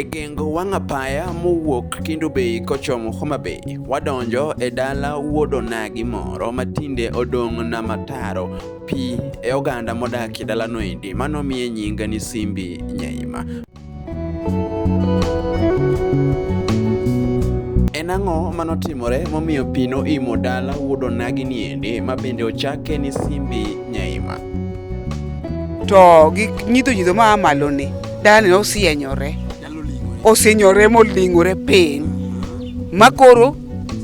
e gengo wang' apaya mowuok Kindu Bay kochomo Homa Bay. Wadonjo e dala wuod onagi moro matinde odong' na mataro pi e oganda modakie dalano endi. Mano miye nyinga ni Simbi Nyaima. En ang'o manotimore momiyo pi noimo dala wuod onagi ni ende ma bende ochake ni Simbi Nyaima? To gi nyidho nyidho ma a malo ni dalani nosienyore, osienyore moling'ore piny ma koro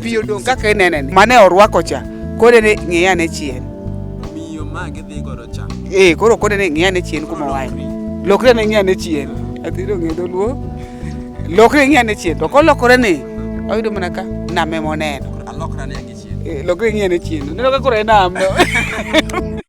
Pi odong' kaka inene ni. Mane orwako cha. Kode ni ng'iya ne chien. Miyo ma gidhi godo cha. Eh, koro kode ni ng'iya ne chien kuma wae. Lokre ne ng'iya ne chien. Atiro ng'e dholuo. Lokre ng'iya ne chien. To kolokore ni oyudo mana ka name moneno. Alokra ne gi chien. Eh, lokre ng'iya ne chien. Neno ka koro e nam.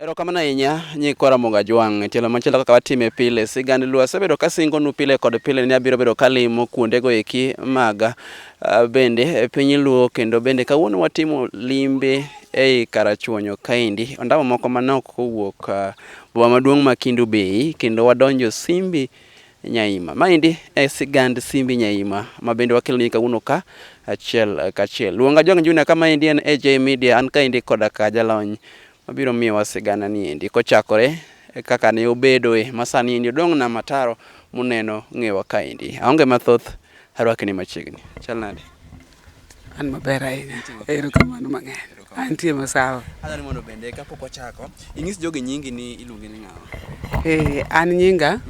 Erokamano ahinya nyikwa Ramogi Ajwang'. Tielo machielo kaka watime pile, sigand Luo asebedo kasingonu pile kod pile ni abiro bedo kalimo kuondego eki mag ah, bende e piny Luo kendo bende kawuono watimo limbe ei Karachuonyo kaendi. Ondamo moko manok kowuok ah, Boma maduong' ma Kindu Bay kendo wadonjo Simbi Nyaima. Maendi e sigand Simbi Nyaima ma bende wakelo ni kawuono ka achiel kachiel. Luonga Jong Junior ka maendi en AJ Media an kaendi koda ka jalony mabiro miyowa sigana ni endi kochakore e kaka ne obedoe masani endi odong' na mataro muneno ng'ewa kaendi. Aonge mathoth arwakni machiegni. Chal nade? An maber ahinya. Ero kamano mang'eny. Antie masawa. Adwaro mondo bende kapok wachako inyis jogi nyingi ni iluongi ni ng'awa. Eh, an nyinga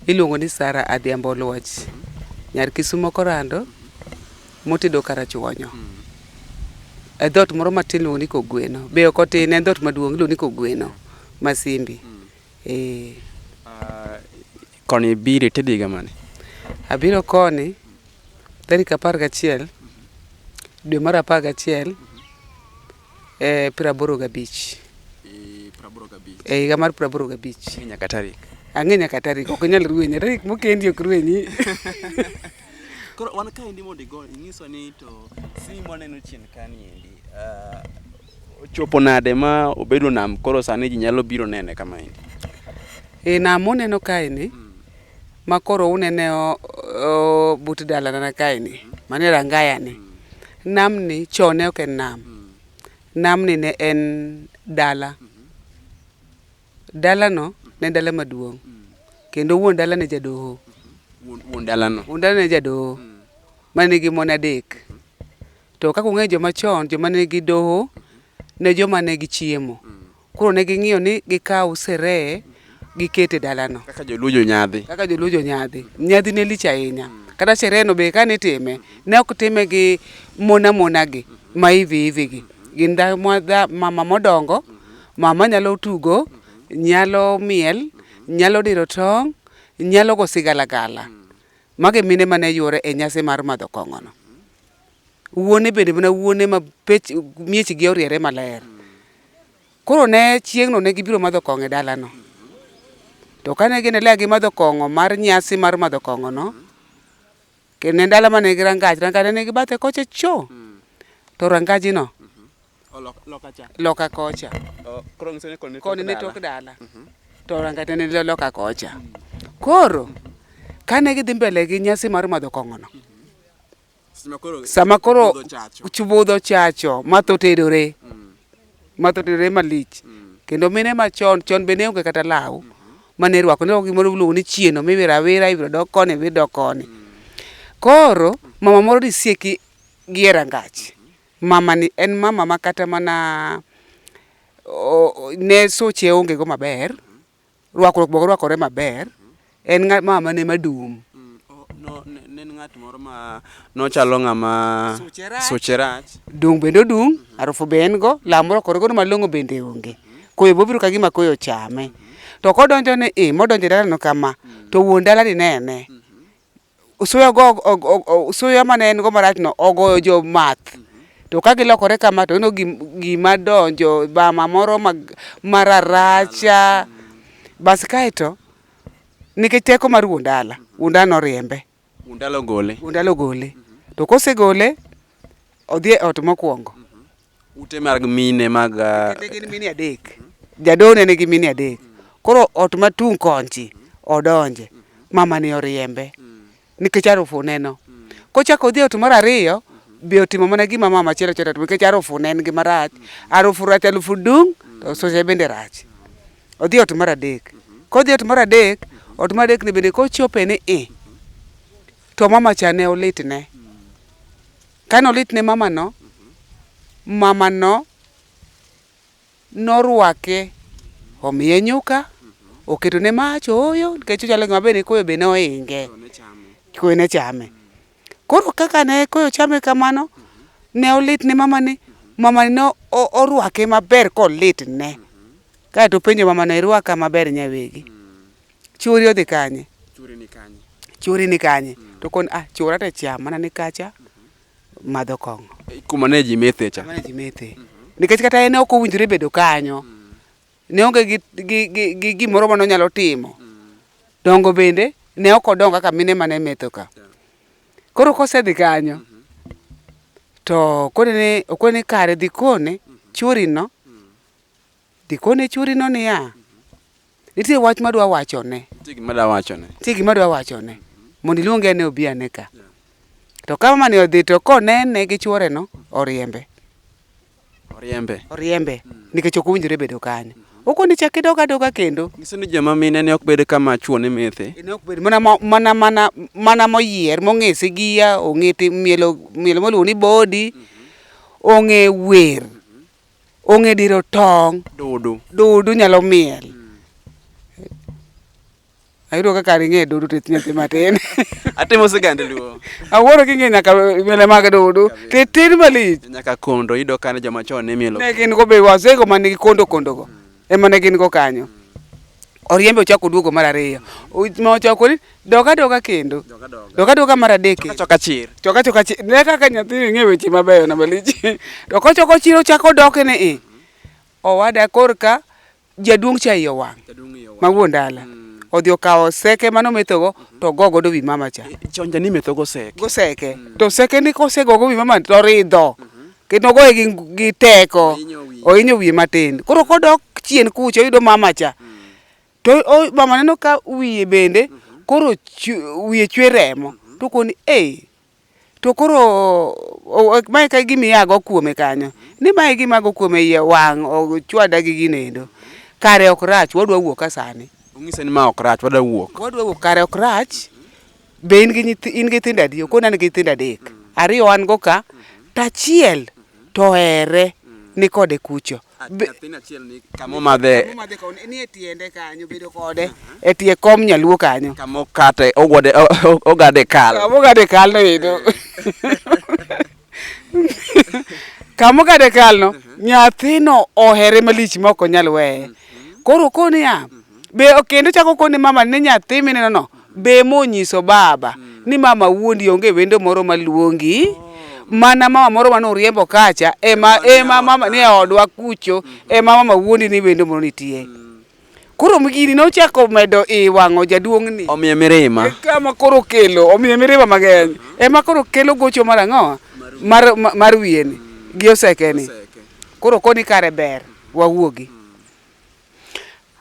iluongo ni Sara Adhiambo Oluoch. Nyar Kisumo Korando motedo Karachuonyo. E dhot moro matin iluongo ni Kogweno. Be ok otin en dhot maduong' iluongo ni Kogweno Masimbi. Eh. Ah, Koni bire to idhiga mane? Abiro koni tarik apar gachiel dwe mar apar gachiel e piero aboro gabich e higa mar piero aboro gabich nyaka tarik ang'e nyaka tarik ok inyal ruwenyi tarik mokendi ok ruwenyi koro wan kaendi mondo igo inyiswa ni to sim waneno chien kaniendi ah, Ochopo nade ma obedo nam koro sani ji nyalo biro nene kama endi? E nam uneno kaeni ma koro unene o- o- but dalanana kaeni mane rangayani namni chon ne ok en nam namni ne en dala dalano ne en dala maduong' kendo wuon dala ne jadoho Wuon wuon dalano. wuon dala ne jadoho mane nigi mon adek To kaka ung'eyo joma chon, joma ne nigi doho ne joma ne gichiemo. Koro ne ging'iyo ni gikaw seree giket e dalano. Kaka joluo jonyadhi. Kaka joluo jonyadhi. Nyadhi ne lich ahinya. Kata seree no be kane itime, ne ok time gi mona mona gi, ma hivi hivi gi. Gin mama modongo, mama nyalo tugo, nyalo miel, nyalo diro tong', nyalo go sigalagala. Mago e mine mane yuoro e nyasi mar madho kong'o no. wuone bende mana wuone ma pech miechgi oriere maler. Koro ne chieng'no ne gibiro madho kong'o e dalano. To kane ginelea gi madho kong'o mar nyasi mar madho kong'ono, kendo ne dala mane gi rangach, rangach ne gibathe kocha cho, to rangajino loka kocha. Koni ne tok dala, mhm. to rangach ne ni loka kocha. Koro kane gidhi mbele gi nyasi mar madho kong'ono, sama koro chubudho chacho ma tho terore mm. ma tho terore malich mm. kendo mine ma chon chon be ne onge kata law mm -hmm. ma ne rwako ne gimoro miluongo ni chieno miwiro awira ibiro dok koni ibiro dok koni mm. koro mama moro nisieki gi e rangach mm-hmm. mama ni en mama ma kata mana ne soche onge go maber mm -hmm. Rwakruok bok rwakore maber. En ng'a ma ma ne madum. No, ne ne en ng'at moro ma nochalo ng'ama suche rach. Dung' bende odung', arufu be en go, law morwakore godo malong'o bende onge. Koyo bobiro ka gima koyo ochame. To kodonjo ni i, modonjo e dalano kama, to wuon dala ni nene. suya go suya mane en go marach no ogoyo jo math to ka gilokore kama to ino gima donjo bama moro mararacha bas kae to nikech teko mar wuon dala wuon dala noriembe wuon dala ogole wuon dala ogole to kosegole odhi e ot mokwongo Ute mag mine mag ah, Kinde gin mine adek. Jadolo ne nigi mine adek. Koro ot matung' konchi odonje. Mama ni oriembe. Nikech arufu neno. Kochako odhi e ot mar ariyo, be otimo mana gima mama achiel achiel otimo nikech arufu ne en gima rach. Arufu rach, arufu dung', to suya bende rach. Odhi e ot mar adek. Kodhi e ot mar adek, ot mar adek ni bende kochope ni i, to mama cha ne olitne. Kane olit ne mamano, mamano norwake, omiye nyuka, oketo ne mach, ooyo, nikech ochalo ng'ama bende koyo be nohinge. Koyo ne chame. Koro kaka ne koyo chame kamano, ne olit ne mamani, mamani ne orwake maber kolit ne. Kaeto openjo mamano, irwaka maber nyawegi? Chwori odhi kanye? Chwori ni kanye? Chwori ni kanye? Mm. To kon ah chwora to cham mana ni kacha mm -hmm. madho kong'o. Eh, kuma ne ji methe cha. Kuma ne ji methe. Mm -hmm. Nikech kata en ok owinjore bedo kanyo. Mm -hmm. Ne onge gi gi gi, gi gimoro ma nonyalo timo. Mm -hmm. Dongo bende ne ok odongo kaka mine mane metho ka. Yeah. Koro kosedhi kanyo. Mm -hmm. To kone ne okone kare dhi kone mm -hmm. chwori no. Mm -hmm. Dhi kone chworino niya, Nitie wach ma dwa wachone. Nitie gima dwa wachone. Nitie gima dwa wachone. Mondo iluonge ane obi ane ka. To ka mamani odhi to konene gi chworeno, oriembe. Oriembe. Oriembe nikech ok owinjore bedo kanyo. Okoni chak idog adoga kendo. Nyiso ni joma mine ne ok bed kama chwo ne methe. Ne ok bed mana mo- mana mana mana moyier mong'e sigiya, ong'e ti- mielo mielo moluongo ni bodi, ong'e wer. ong'e diro tong'. Dudu. Dudu nyalo miel. Ayudo kaka ar ing'e dudu to ithnya thi matin. Atimo sigand luo. Awuoro king'e nyaka mele mag dudu. To itin malich. Nyaka kondo, iyudo ka ne joma chon ne mielo. Ne gin go be wazego man gi kondo kondo go. ema ne gin go kanyo oriembe ochako oduogo mar ariyo ma ochako ni dok adoka kendo dok adoka mar adek choka chir choka choka chir ne kaka nyathi ng'e weche mabeyo na malich to kochoko chir ochako odoke ni i owada korka jaduong' cha iye owang' ma wuon dala mm. odhi okawo seke mano methogo mhm. to go godo wi mama cha chonja ni methogo seke go seke mm. to seke ni kosegogo wi mama to ridho mhm. kendo ogoye gi, gi teko ohinyo wiye matin koro kodok chien kucha oyudo mama cha to o, mama neno ka wiye bende koro chu, wiye chwe remo to koni ei to koro o- o- mae ka gima iago kuome kanyo ni mae gima ago kuome iye wang' ochwada gi ginendo kare ok rach wadwa wuok ka sani Onyise ni ma ok rach, wadwa wuok. wadwa wuok kare ok rach Be in gi nyithi in gi nyithindo adi? Okona an gi nyithindo adek. Ariyo wan go ka to achiel to ohere ni kode kucho. Be- Nyathini achiel ni kama omadhe Omadhe ka on- nie tiende kanyo bedo kode e tie kom nyaluo kanyo. kama okate ogode o- o- ogade kal. Kama ogade kal no endo. kamo kade kalno mhm. nyathino ohere malich ma ok onyal weye mhm. koro koni ya mhm. be kendo chako koni mama ni nyathi mineno no be monyiso baba ni mama wuondi onge wendo moro maluongi oh. mana mama moro mane uriembo kacha ema ema mama ni e odwa kucho ema mama wuondi ni wendo moro nitie mm. Koro gini nochako medo i wang'o jaduong'ni. Omiye mirima. Kama koro kelo, omiye mirima mang'eny. Ema koro kelo gocho mar ang'o? Mar, ma- mar wiyeni gi osekeni. Koro koni kare ber, wawuogi.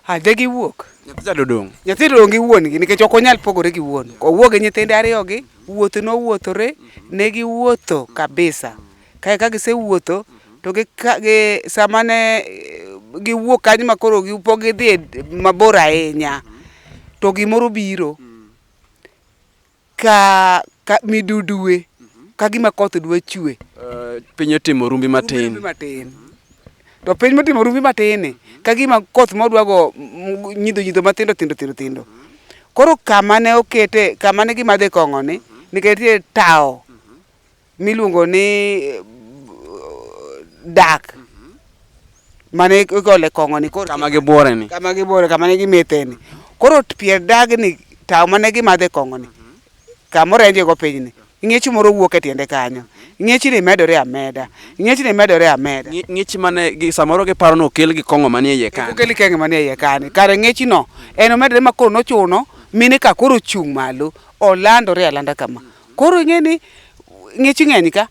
A de giwuok. Nyathi cha dodong'. Nyathi dong' gi wuon-gi nikech ok onyal pogore gi wuon. Owuok gi nyithinde ariyogi, wuoth nowuothore, ne giwuotho kabisa. Kae ka gisewuotho, to gi, ka- gi, sama ne eh, giwuok kanyo ma koro gi- pok gidhi e d- mabor ahinya, to gimoro biro ka, ka midudue, ka gima koth dwa chue. Eh, piny otimo rumbi matin Rumbi matin. To piny motimo rumbi matin ka gima koth modwago nyidho nyidho matindo tindo tindo tindo. Koro kama ne okete, kama ne gimadhe kong'oni, nikech nitie tawo miluongo ni eh, dak mane igole kong'oni koro kama gibuore ni kama gibore kama ne gimetheni koro t- pier dagni tawo mane gimadhe kong'oni kamoro enjego pinyni ng'ech moro wuok e tiende kanyo ng'echni medore ameda ng'echni medore ameda Ng'i- ng'ich mane gi- samoro giparo ni okel gi kong'o manie iye ka okeli kenge manie iye kani kare ng'echino en omedore ma koro nochuno mine ka koro ochung' malo olandore alanda kama Koro ing'e ni ng'ich ng'eny ka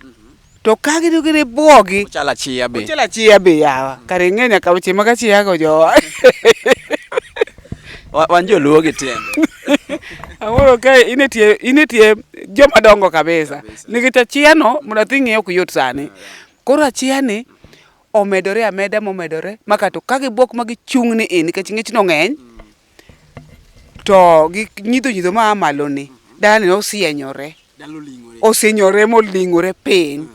to ka gido gire bwogi Ochal achiya be. ochela chiya be yawa kare ing'e nyaka weche mag achiya go jowa Wa- Wan joluo gi tiende. Ang'oro ka in e tie in e tie joma dongo kabisa nikech achiya no mondo athi ng'eyo ok yot sani koro achiya ni omedore ameda momedore ma kato ka gibwok ma gichung' ni in nikech ng'ich no ng'eny to gi nyidho nyidho ma malo ni dalani ne osienyore osinyore moling'ore piny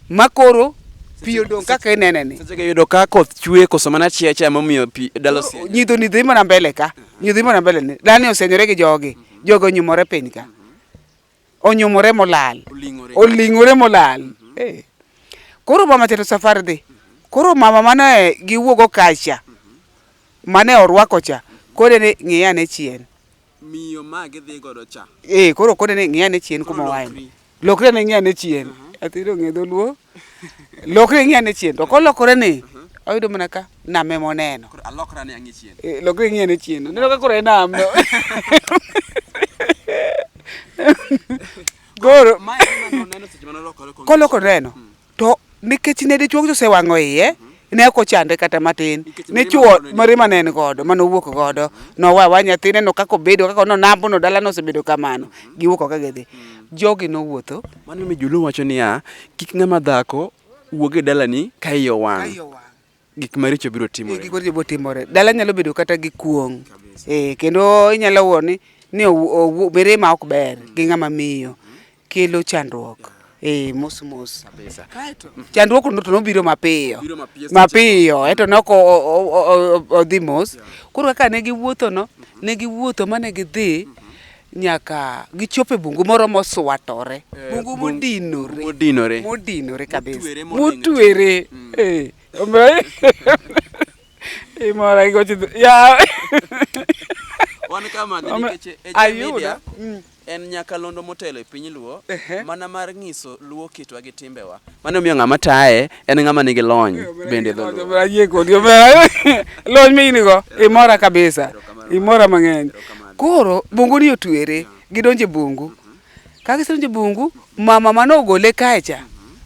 makoro pi odong' kaka inene ni Sechego yudo ka koth chwe koso mana chia chia momiyo pi dalo si. nyidho nyidho imana mbele ka nyidho imana mbele ni dalani osienyore gi jogi jogi onyumore piny ka onyumore molal oling'ore molal mhm. eh. koro mama tero safari dhi koro mama mane giwuogo kacha mhm. mane orwako cha kode ni ng'iya ne chien miyo ma gidhi godo cha eh koro kode ni ng'iya ne chien kuma waen lokre ne ng'iya ne chien mhm. atiro ng'e dholuo lokre ing'i ane chien to kolokore ni oyudo mana ka nam ema oneno Koro alokra ne ang'e chien. Eh, lokre ing'i ane chien neno ka koro e nam no koro Mae ema noneno seche mane olokore kong'iyo koloko neno to nikech ne dichuo osewang'o iye ne ok ochande kata matin ne chuo mare mane en godo mane owuok godo nowa wa nyathine no kako bedo kako no nambo no dala no osebedo kamano giwuok oka gidhi jogi nowuotho mano mi julu wacho niya kik ng'ama dhako wuog e dalani ka iye owang' gik maricho biro timore gik maricho biro timore dala nyalo bedo kata gi kuong' eh kendo inyalo wuo ni ni mirima ok ber gi ng'ama miyo kelo chandruok eh, mos mos kabisa. Kaeto chandruok no to nobiro mapiyo Biro mapiyo seche mapiyo, eto ne ok o- o- o- o- odhi mos. Koro kaka ne giwuotho no, ne giwuotho ma ne gidhi nyaka gichopo e bungu moro moswatore, Eh, bungu bung- modinore, modinore. modinore kabisa, Motwere molingo. motwere. Eh, omiyo- Eh, mora igocho dho- yaw. Wan kama Ome- nikech Eja ayudo. Media Mm. En nyakalondo motelo e piny Luo mana mar nyiso Luo kitwa gi timbewa. Mano miyo ng'ama taye en ng'ama nigi lony bende dho Luo. Ayie kodi omera. Lony ma in go imora kabisa. Imora mang'eny. Koro bungu ni otwere, gidonjo e bungu. Ka gisedonjo e bungu, mama mane ogole kae cha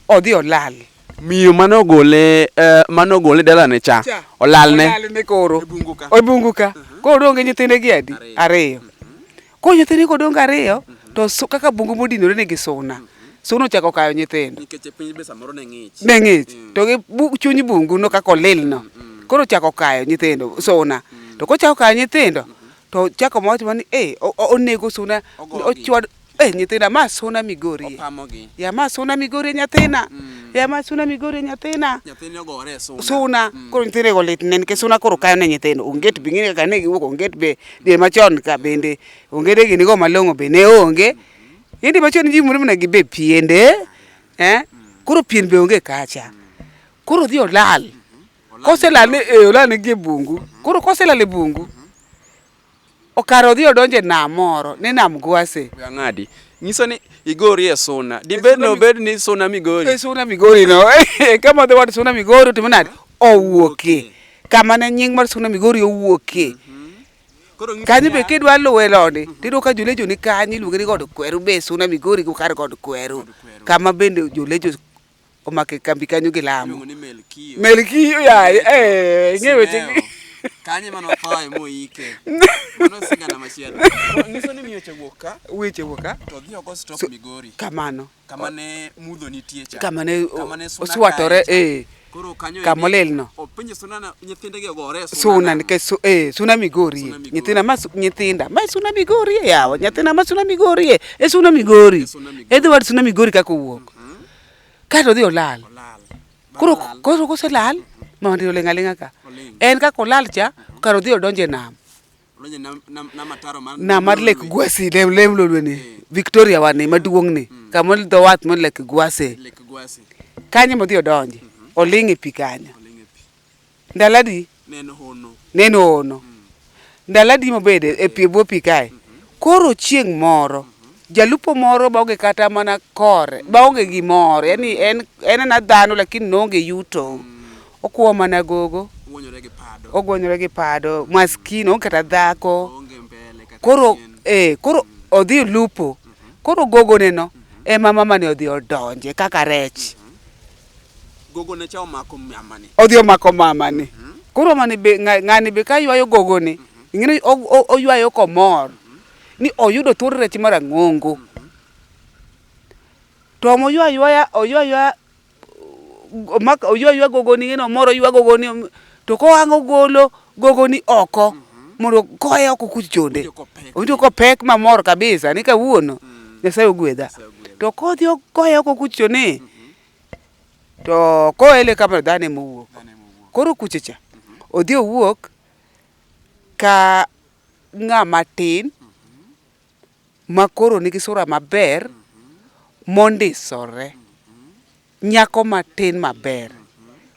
odhi olal. Miyo mane ogole eh, mane ogole dalane cha Cha. olalne. Olalne koro. E bungu ka. E bungu ka. Koro odong' gi nyithinde gi adi? Ariyo. Koro nyithindgi kodong' ariyo to kaka bungu modinore nigi suna. Suna ochako kayo nyithindo. Nikech e piny be samoro ne ng'ich. Ne ng'ich. Mm. To gi chuny bungu no kaka olil no. Mm. Koro ochako kayo nyithindo suna. Mm. To kochako kayo nyithindo to chako mawach ni eh onego suna ochwad eh nyithinda ma suna migori ya ma suna migori nyathina mm. ya ma suna migori nyathina suna mm. koro nyithindo go lit ne nikech suna koro kayo ne nyithindo onget be ng'e kaka ne giwuok onget be Dwe machon ka bende onge de gini go malong'o be ne onge. Indi machon ji mure mna gibe piende. Eh? Koro pien be onge kacha. Koro dhi olal. Kose lal ni e olal ni gie bungu. Koro kose lal e bungu. Okaro dhi odonje nam moro ni nam gwase. Ng'adi. Nyiso ni igori e suna. Dibed no bed ni suna migori. E suna migori no. Kama the word suna migori to mna owuoke. kama ne nying mar Suna Migori owuokie. Mhm. Kanyo be kidwa luwe loni, mhm. tiyudo ka jolejo ni kanyo iluonge ni god kweru be Suna Migori go kar god kweru. Kama bende jolejo omake kambi kanyo gi lamo. Melkiyo yaye, eh, ng'e weche gi. Kanye mano thoye moike. Mano sigana machielo. Nyiso ni miyo chewuok ka. Weche wuok ka. To dhi ogo stop Migori. Kamano. kama ne mudho nitie cha kama ne oswatore eh koro kanyo kama olel no opinje suna na nyithinde ge gore suna suna nikech su, eh suna migori nyithinda ma nyithinda ma suna migori e yawa nyithinda ma suna migori e e suna migori e dho wad suna migori kaka owuok mm -hmm. kato dhi olal koro koro koselal ma ndiro lenga lenga ka en kaka olal cha karo dhi odonje nam na mar lek gwasi lem lem lolwe ni eh. victoria wani eh. maduong ni hmm. kama dho wath mo lek gwasi kanyo modhi odonje mhm. oling e pi kanyo ndaladi neno hono hmm. ndaladi mobede e pi eh. bwo pi kae mhm. koro chieng moro mhm. jalupo moro baonge kata mana kore baonge gimoro yani en en na dhano lakini noonge yuto mm. Okuo mana gogo. Ogwonyore gi pado. Maskini onge kata dhako. Koro eh koro odhi lupo. Koro gogo ne no ema mama ni odhi odonje kaka rech. Gogo ne cha omako mama ni. Odhi omako mama ni. Koro mama ni be ng'ani be ka ywayo gogo ni ing'eni oywayo komor ni oyudo thuond rech marang'ongo. To omo ywa ywaya oywa ywaya omako oywa ywa gogoni ng'eno moro ywa gogoni om- to kohango golo gogoni oko mondo koye oko kuth chonde owinjo kopek mamor kabisa ni kawuono nyasaye ogwedha to kodhi ok- koye oko kuth choni to koele kamano dhano ema owuok koro kuchocha odhi owuok ka ng'ama tin ma koro nigi sura maber mondisore, nyako matin maber.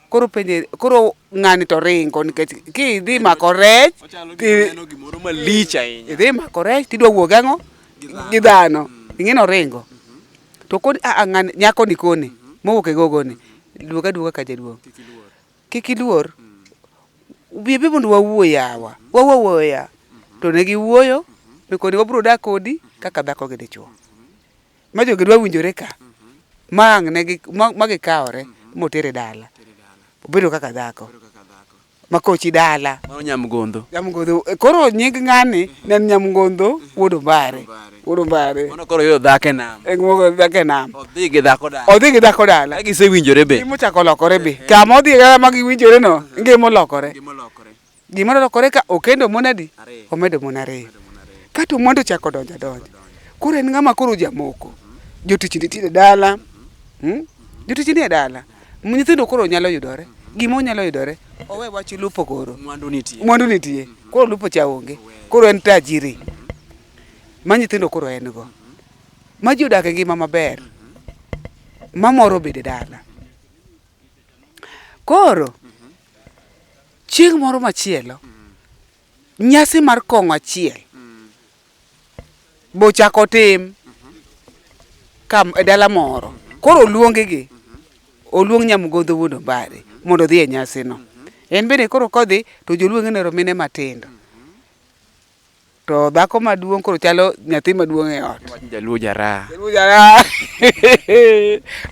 Koro penje, koro ng'ani to ringo nikech kidhi mako rech idhi mako rech tidwa wuog ang'o gi dhano, ing'eni oringo. To koni a a ng'ani nyakoni koni mowuok e gogoni, duog aduoga ka jaduong'. Kik iluor. Bi bi mondo wawuo yawa. Wawuo awuoya. To ne giwuoyo mi koni wabiro dak kodi kaka dhako gi dichwo. Ma jogi dwa winjore ka. Ma ang' ne gi ma gikawore motere dala. Obedo kaka dhako. Ma kochi dala. Mano nyamgodho. Nyamgodho. Koro nying ng'ani ne en nyamgodho wuod ombare. Urubare. Mano koro yo dhake nam. E ng'uogo dhake nam. Odhi gi dhako dala. Odhi gi dhako dala. Ka gise winjore be. Ngima ochako lokore be. Ka ma odhi dala ma giwinjore no, ngima olokore. Ngima olokore. Ngima olokore ka okendo mon adi? Omedo mon ariyo. Kato mwandu chako donjo adonja. Koro en ng'ama koro jamoko. Jotich nitiere dala. Hmm? Jotich nie dala. Nyithindo koro nyalo yudore. Gima onyalo yudore. Owe wach lupo koro. Mwandu nitie. Mwandu nitie. Koro lupo cha onge. Koro en tajiri. ma nyithindo koro en go, ma ji odak e ngima maber, ma moro bede dala. Koro, chieng' moro machielo, nyasi mar kong'o achiel bochako tim ka e dala moro. Koro oluonggi, oluong Nyamgodho wuod Ombare mondo odhi e nyasino. En bende koro kodhi to joluonge ne romine matindo. To dhako maduong' koro chalo nyathi maduong' e ot. Wach jaluo jaraha. Jaluo jaraha.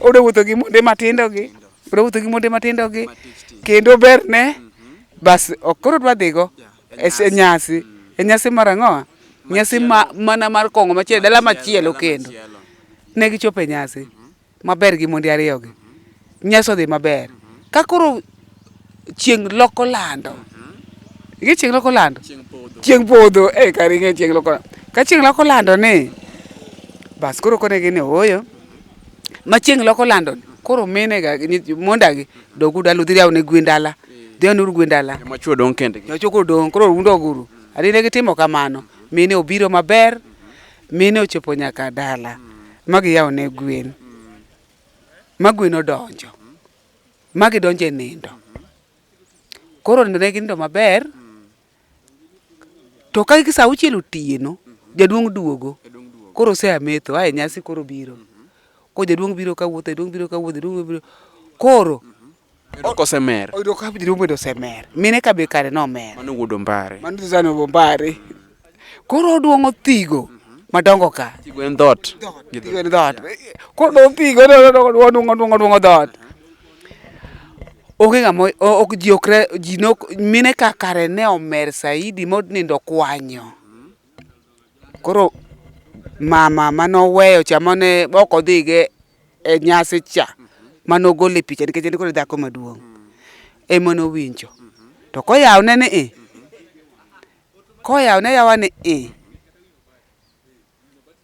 Odo wuotho gi monde matindo gi. Odo wuotho gi monde matindo gi. Kendo ber ne. Bas ok koro dwa dhigo. E nyasi. E nyasi mar ang'owa. Nyasi ma mana mar kong'o machielo. Dala machielo kendo. Ne gichope nyasi. maber gi monde ariyogi, nyasi odhi maber. Ka koro chieng' loko lando, ing'e chieng' loko lando? Chieng' podho, eh kare ing'e chieng' loko lando. Ka chieng' loko lando ni, bas koro kone gini ooyo. Ma chieng' loko lando ni, koro mine ga gi nyith monda gi dogu dala udhi yawne gwen dala. Dhi yawne uru gwen dala. Joma chwo dong' kendgi. Joma chwo koro dong', koro udog uru. Adi ne gitimo kamano, mine obiro maber, Mine ochopo nyaka dala ma giyawo ne gwen ma gwen odonjo ma gidonjo e nindo. Koro nindo ne ginindo maber to ka sa auchiel otieno jaduong' duogo koro ose ametho ae nyasi koro biro. Ko jaduong' biro kawuotho jaduong' biro kawuotho jaduong' biro kawuotho, koro Oyudo kosemer. Oyudo ka jiri obedo osemer. Mine ka be kare nomer. Mano wuod Ombare. Mano Suzana Ombare. Koro oduong' othigo madongo ka. Thigo en dhoot. Thigo en dhoot. Koro oduong' thigo oduong' oduong' oduong' dhoot. Onge ng'ama ok ji okre ji nok mine ka kare ne omer saidi monindo kwanyo. Koro mama manoweyo cha mane ok odhige. e nyasi cha mane ogole picha nikech en koro e dhako maduong' ema nowinjo to koyawne ni i koyawne yawa ni i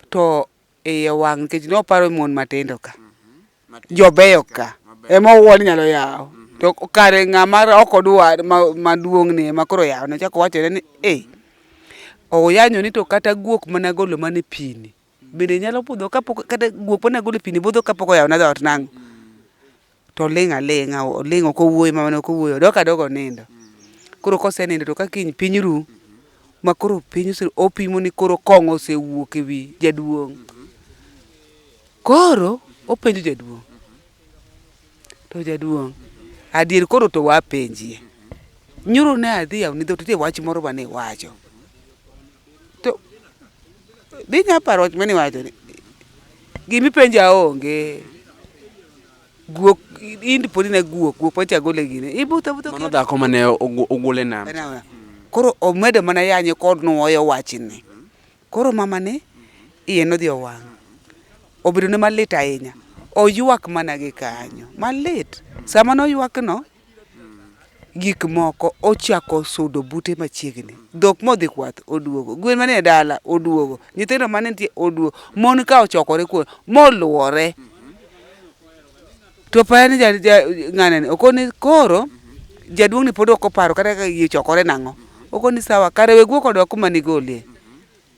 to iye wang' nikech noparo mon matindo ka jobeyo ka ema owuo ni nyalo yawo to kare ng'ama ok odwar ma- maduong' ni ema koro yawne chako wachone ni e oyanyoni to kata guok mana golo mana e pini Bende nyalo budho kapok kata guok pone agolo pini budho kapok oyawna dhoot nang'o? To oling' aling'a, oling' ok owuoyo mamane ok owuoyo, odok adoga onindo. Koro kosenindo to ka kiny piny ru, ma koro piny ose opimo ni koro kong'o osewuok ewi jaduong'. Koro openjo jaduong', to jaduong', adier koro to wapenjie. Nyoro ne adhi yawoni dhoot, nitie wach moro mane iwacho. to dhi nya paro wach mani wacho ni gimi penja onge guok indi podi na guok guok pacha gole gine ibuta buta mano dhako mane ogole nam koro omedo mana yanye kod nuoyo wachni koro mama ni iye nodhi owang' obedo ne malit ahinya oywak mana gi kanyo malit sama noywakno gik moko ochako sudo bute machiegni. Dhok modhi kwath oduogo, gwen manie dala oduogo, nyithindo mane nitie oduogo, mon ka ochokore kuno moluore. To apara ni ja, ja, ng'anani okoni koro jaduong'ni pod ok oparo kata ka ichokore nang'o. Okoni sawa, kare we guok odok kuma nigolie.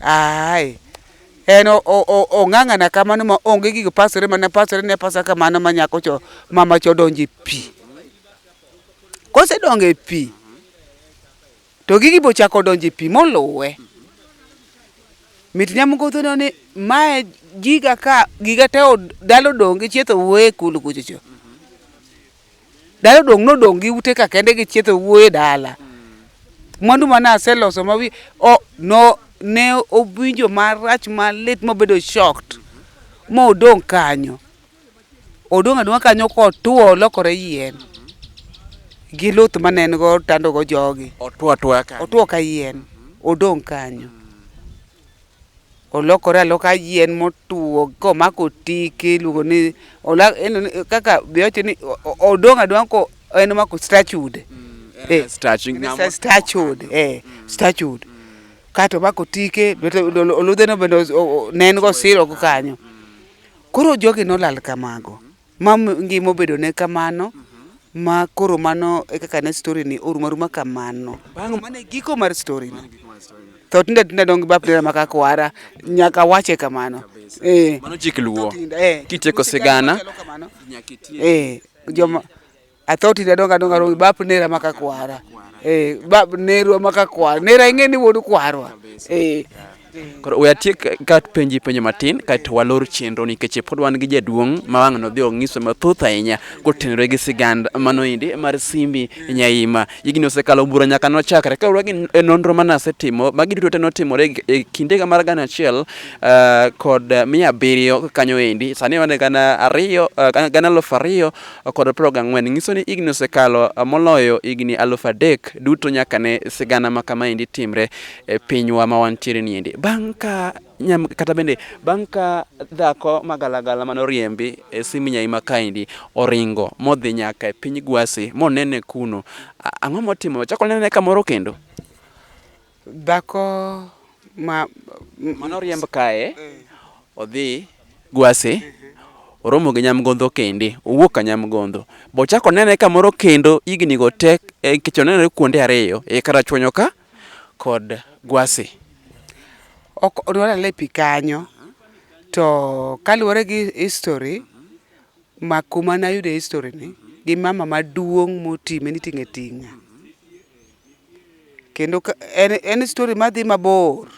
Aye. En o- o- o- ong'ang'ana kamano ma onge gigo pasore mana pasore ne pasa kamano ma nyako cho mama cho donje pi. Kosedonge pi to gigi bochako donje pi moluwe. Mit nyamgodho no ni mae giga ka giga te od- dalo donge chietho wuoye kulu kuchocho. Dala odong' nodong' gi ute ka kende gi chietho wuoye dala. Mwandu mane aseloso ma wi o no ne owinjo marach malit mobedo shocked modong' kanyo. Odong' adong'a kanyo kotuo olokore yien gi luth mane en go tandogo jogi. Otuo atuoya kanyo. Otuo ka yien, odong' kanyo. olokore aloka yien motuo komako tiki iluongo ni ola- en- en- kaka be wacho ni o- o- odong' adong'a ko en omako statude Eh, Statue, en ng'ama- sa- statude eh, statude kato omako tike bete ol- oludheno bende os- o- o- ne en go siro go kanyo koro jogi nolal kamago Ma ngima obedo ne kamano ma koro mano e kaka ne story ni orum aruma kamano. Bang' mano e giko mar story no. Tho tinda tinda dong bap dera maka kwara nyaka wache kamano. Eh. Mano chik luo. Eh. Kitieko sigana. Eh. Joma Atho tinde adongo adonga romi bap nera maka kwara. Eh, bap nerwa maka kwara. Nera ing'e ni wuod kwarwa. Eh. Koro we atiek ka penji penjo matin kaeto walor chenro nikech pod wan gi jaduong' ma wang' nodhi ong'iso mathoth ahinya kotenore gi sigand mano indi mar Simbi Nyaima. Higni osekalo bura nyaka nochakre kaluwore gi n- e nonro mane asetimo magi duto te notimore e- e kindega mar gana achiel ah, kod mia abiriyo kanyo endi sani wan e gana ariyo ah, gana- gana elfu ariyo kod piero gang'wen nyiso ni higni osekalo moloyo higni alufu adek duto nyaka ne sigana ma kama endi timre e pinywa ma wantiere ni endi. Bang' ka nyam kata bende bang' ka dhako magalagala mane oriembi e Siminyai ma kaendi oringo modhi nyaka e piny Gwasi monene kuno, a- ang'o motimo? Ochako onene kamoro kendo? Dhako ma mano riemb kae odhi gwase oromo gi nyamgondho kende owuok ka nyamgondho bo chako nene kamoro kendo igni go tek e eh, kicho nene kuonde ariyo e kara chwonyo ka kod gwase ok odwara le pi kanyo to kaluwore gi history ma kuma nayude history ni gi mama maduong' moti meniting'e ting'a kendo en story madhi mabor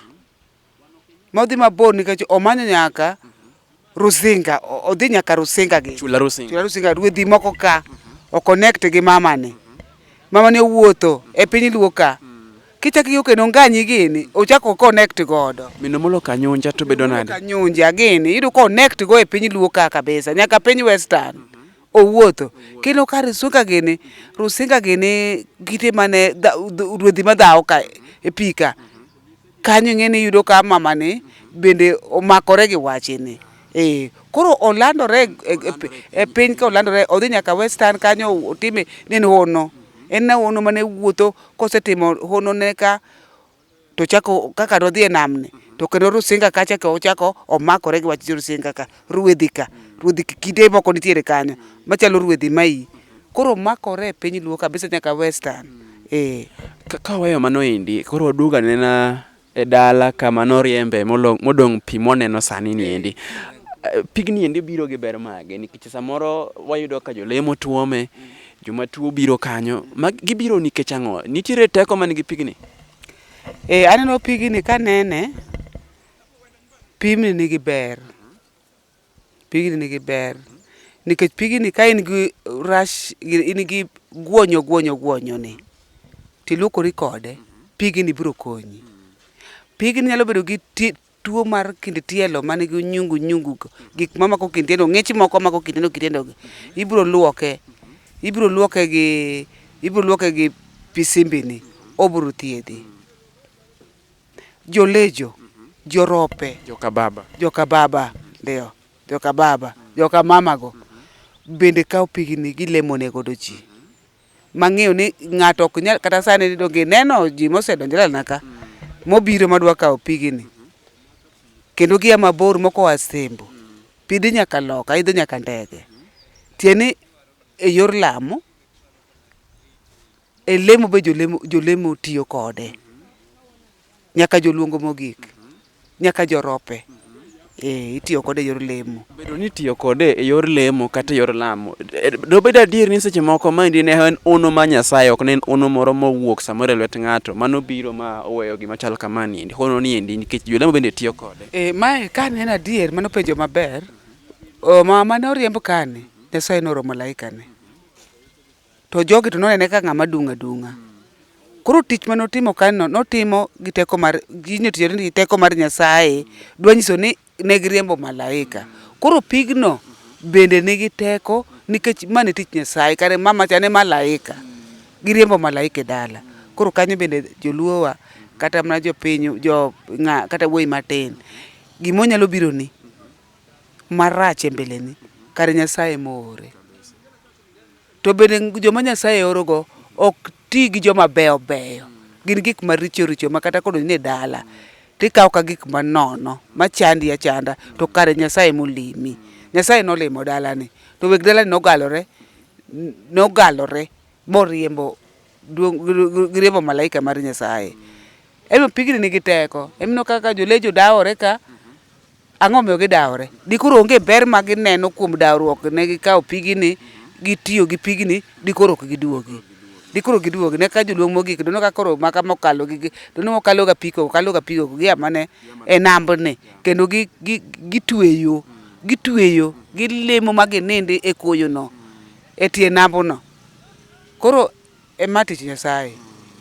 modhi mabor nikech omanyo nyaka Rusinga odhi nyaka Rusinga gi Chula Rusinga Chula Rusinga ruedhi moko ka o connect gi mama ni mama ni owuotho e piny luo ka kichaki yo kendo nganyi gini ochako connect godo mino molo kanyunja to bedo nade kanyunja gini yudo connect go e piny luo ka kabisa nyaka piny western owuotho kendo ka rusinga gini rusinga gini kite mane ruodhi madhawo ka e pika kanyo ing'eni yudo ka mama ni bende omakore gi wachini eh koro olandore e, e, e, e piny ka olandore odhi nyaka western kanyo otime ne hono en na hono mane wuotho kosetimo hono ne ka to chako kaka nodhi e nam ni to kendo Rusinga kacha ka ochako omakore gi wach Rusinga ka ruedhi ka ruedhi kite moko nitiere kanyo machalo ruedhi mai koro makore e piny luo kabisa nyaka western eh ka wayo mano indi koro waduoga nena e dala kama noriembe modong' pi moneno sani ni endi pigni endi biro gi ber mage nikech samoro wayudo ka jolemo tuome mm. Joma tuo biro kanyo, ma gibiro nikech ang'o? Nitiere teko man gi pigni? E, aneno pigni ka nene, pigni nigi ber. Pigni nigi ber. Nikech pigni ka in gi rash, in gi guonyo guonyo guonyo ni, tiluokori kode, pigni biro konyi. Pigni nyalo bedo gi tuo mar kind tielo man gi nyungu nyungu gik ma mako kind tielo ng'ich moko mako kind tielo kitiendo gi ibro luoke ibro luoke gi ibro luoke gi pisimbini obro thiedhi jolejo jorope joka baba joka baba ndio joka baba joka mama go bende kawo pigni gilemo ne godo ji mang'eyo ni ng'ato ok nyal kata sani ni donge ineno ji mosedonjo e dalana ka mobiro madwa kawo pigini kendo gia mabor moko oa Sembo pi dhi nyaka loka idho nyaka ndege tiende ni e yor lamo e lemo be jolemo jolemo tiyo kode. Nyaka joluongo mogik, nyaka jorope. Ee, itiyo kode e yor lemo. Bedo ni itiyo kode e yor lemo kata e yor lamo, e, dobed adier ni seche moko maendi ne en ono ma Nyasaye, ok ne en ono moro mowuok samoro e lwet ng'ato, mano biro ma oweyo gima chal kama niendi. Hono niendi nikech jolemo bende tiyo kode. E, mae ka ne en adier, mano penjo maber. O, ma mane oriemb kani, Nyasaye nooro malaikane. To jogi to nonene ka ng'ama dung' adung'a. Koro tich ma notimo kanyo notimo gi teko mar gino tiyo gi teko mar Nyasaye dwa nyiso ni ne giriembo malaika. Koro pigno bende nigi teko nikech ma ne tich Nyasaye kare mama cha ne malaika. Giriembo malaika e dala. Koro kanyo bende joluo wa kata mana jopiny jo ng'a kata wuoyi matin gimonyalo bironi marach e mbele ni kare Nyasaye e moore. To bende joma Nyasaye orogo ok ti gi joma beyo beyo. Gin gik maricho richo ma kata kodonj ni dala to ikawo ka gik manono machandi achanda to kare Nyasaye ema olimi. Nyasaye nolimo dalani to weg dalani nogalore nogalore moriembo giriembo malaika mar Nyasaye. Emomiyo pigni nigi teko. Ineno kaka jolecho dawore ka. Ang'o momiyo gidawore? Dikoro onge ber ma gineno kuom dawruok ne gikawo pigini, gitiyo gi pigini, dikoro ok giduogi. Dikoro giduogi, ne ka joluong mogik, dono ka koro maka mokalo gi, dono mokalo ga piko, kalo ga piko, gia mane e nambni, kendo gi, gi, gitweyo, gitweyo, gilemo ma ginindi e koyono, e tie nambuno. Koro. E ma tich Nyasaye.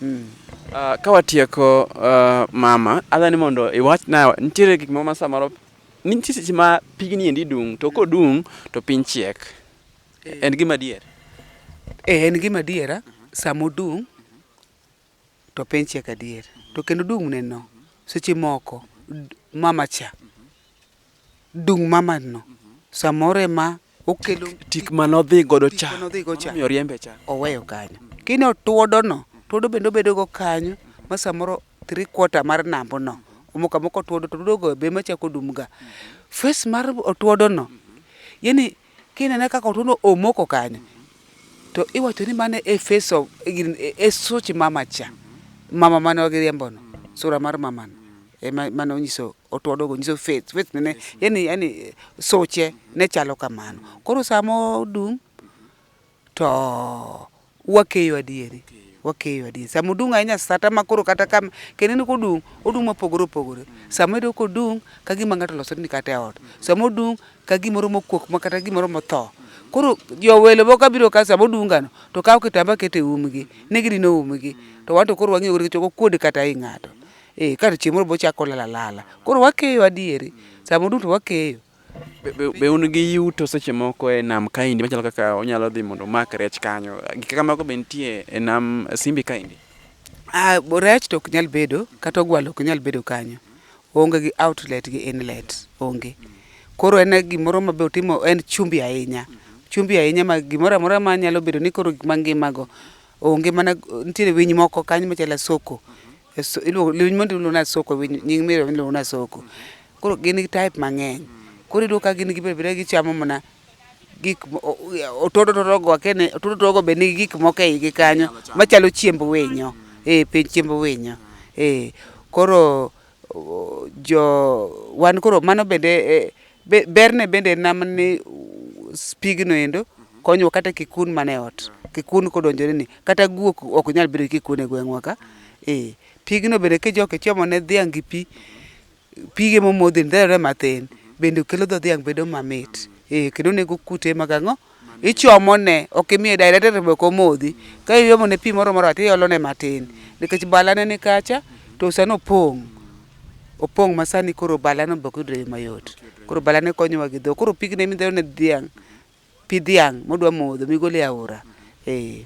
Mm. Uh, ka watieko uh, mama, adha ni mondo iwachna nitiere gik moko ma samoro nitie seche ma pigni endi dung' to kodung' to piny chiek. Eh. En gima dier. Eh, en gima diera sama odung' to piny chiek adier. To kendo dung' ne no seche moko mama cha dung' mamad no samoro ema okelo tik manodhi godo cha omiyo oriembe cha oweyo kanyo kini otuodo no tuodo bende obedo go kanyo ma samoro three quarter mar nambo no omoko amoka otuodo to tuodo go be ema chako odum ga face mar otuodo no yani kinene kaka otuodo omoko kanyo to iwacho ni mano e face of e such mama cha mama mane wagiriembo no sura mar mama no ema mane onyiso watu wadogo nyiso faith faith nene yani yani soche ne chalo kamano koro samo odung to wakeyo adieri wakeyo adieri samo odung ahinya sata ma koro kata kam kendo ni kodung odung mopogore opogore samo edo kodung ka gima ng'ato loso ni kata e ot samo odung ka gimoro mokuok ma kata gimoro motho koro jo welo moko abiro ka samo dungano to kawo kitamba kete umgi ne gidino umgi to wan to koro wang'iyo gore chogo kuod kata i ng'ato Eh, ka chieng' moro bochako lala lala. Koro wakeyo adieri. Sama duto wakeyo. Be, be, be un gi yuto seche moko e nam kaendi machalo kaka onyalo dhi mondo omak rech kanyo gik kaka mago be nitie e nam simbi kaendi Ah, bo- rech to ok nyal bedo, kata ogwal ok nyal bedo kanyo. Onge gi outlet gi inlet, onge. Koro en gimoro ma be otimo en chumbi ahinya. Chumbi ahinya ma gimoro amora ma nyalo bedo ni koro gik mangimago onge mana nitiere winy moko kanyo machalo asoko. Lewni mondo iluongo na soko, nying mero iluongo na soko. Koro gin gi type mang'eny. Koro iyudo ka gin gibet abeta gichamo mana gik otodo otodo go akene otodo otodo go be nigi gik moko e igi kanyo machalo chiemb winyo. Eh, piny chiemb winyo. Eh, koro jo wan koro mano bende e, Be, berne bende en nam ni pigno endo konyowa kata kikun man e ot. Kikun kodonjore ni, kata guok ok nyal bedo gi kikun e gweng'wa ka. Ee, pigno bende kijoko ichomo ne dhiang' gi pi, pige momodhi ni dherore mathin, bende kelo dho dhiang' bedo mamit. Ee, kendo onego kute mag ang'o? ichomone, ok imiye direct to be ok omodhi. Ka iomone pi moro moro to iolone matin nikech balane ni kacha to sani opong'. Opong' ma sani koro balano be ok yudre e yo mayot. Koro balane konyowa gi dhok. Koro pigni ema idhero ne dhiang', pi dhiang' modwa modho migolo e aora. Ee.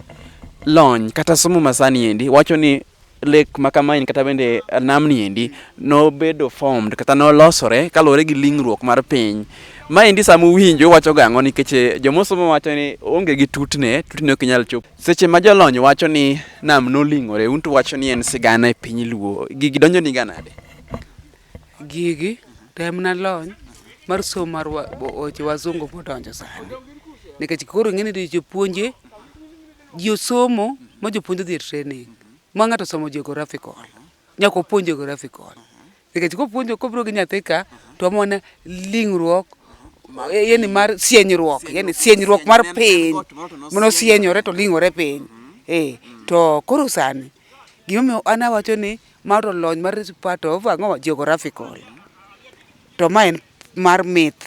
Lony kata somo masani endi wacho ni lek ma kamaeni kata bende namni endi nobedo formed kata nolosore kaluwore gi lingruok mar piny maendi sama uwinjo wacho gang'o nikech eh, jomosomo wacho ni onge gi tutne tutne ok inyal chopo seche ma jolony wacho ni nam noling'ore un to wacho ni en sigana e piny luo gigi donjo ni ganade gigi temna lony mar somo mar wa- bo- weche wazungu modonjo sani nikech koro ing'e ni jopuonje Ji osomo ma jopuonj odhi e training ma ng'ato osomo geographical nyaka opuonj geographical nikech kopuonjo kobiro gi nyathi ka to amona lingruok yani mar sienyruok yani sienyruok mar piny mono sienyore to lingore piny eh to koro sani gimomiyo an awacho ni ma to lony mar part of ang'o geographical to ma en mar myth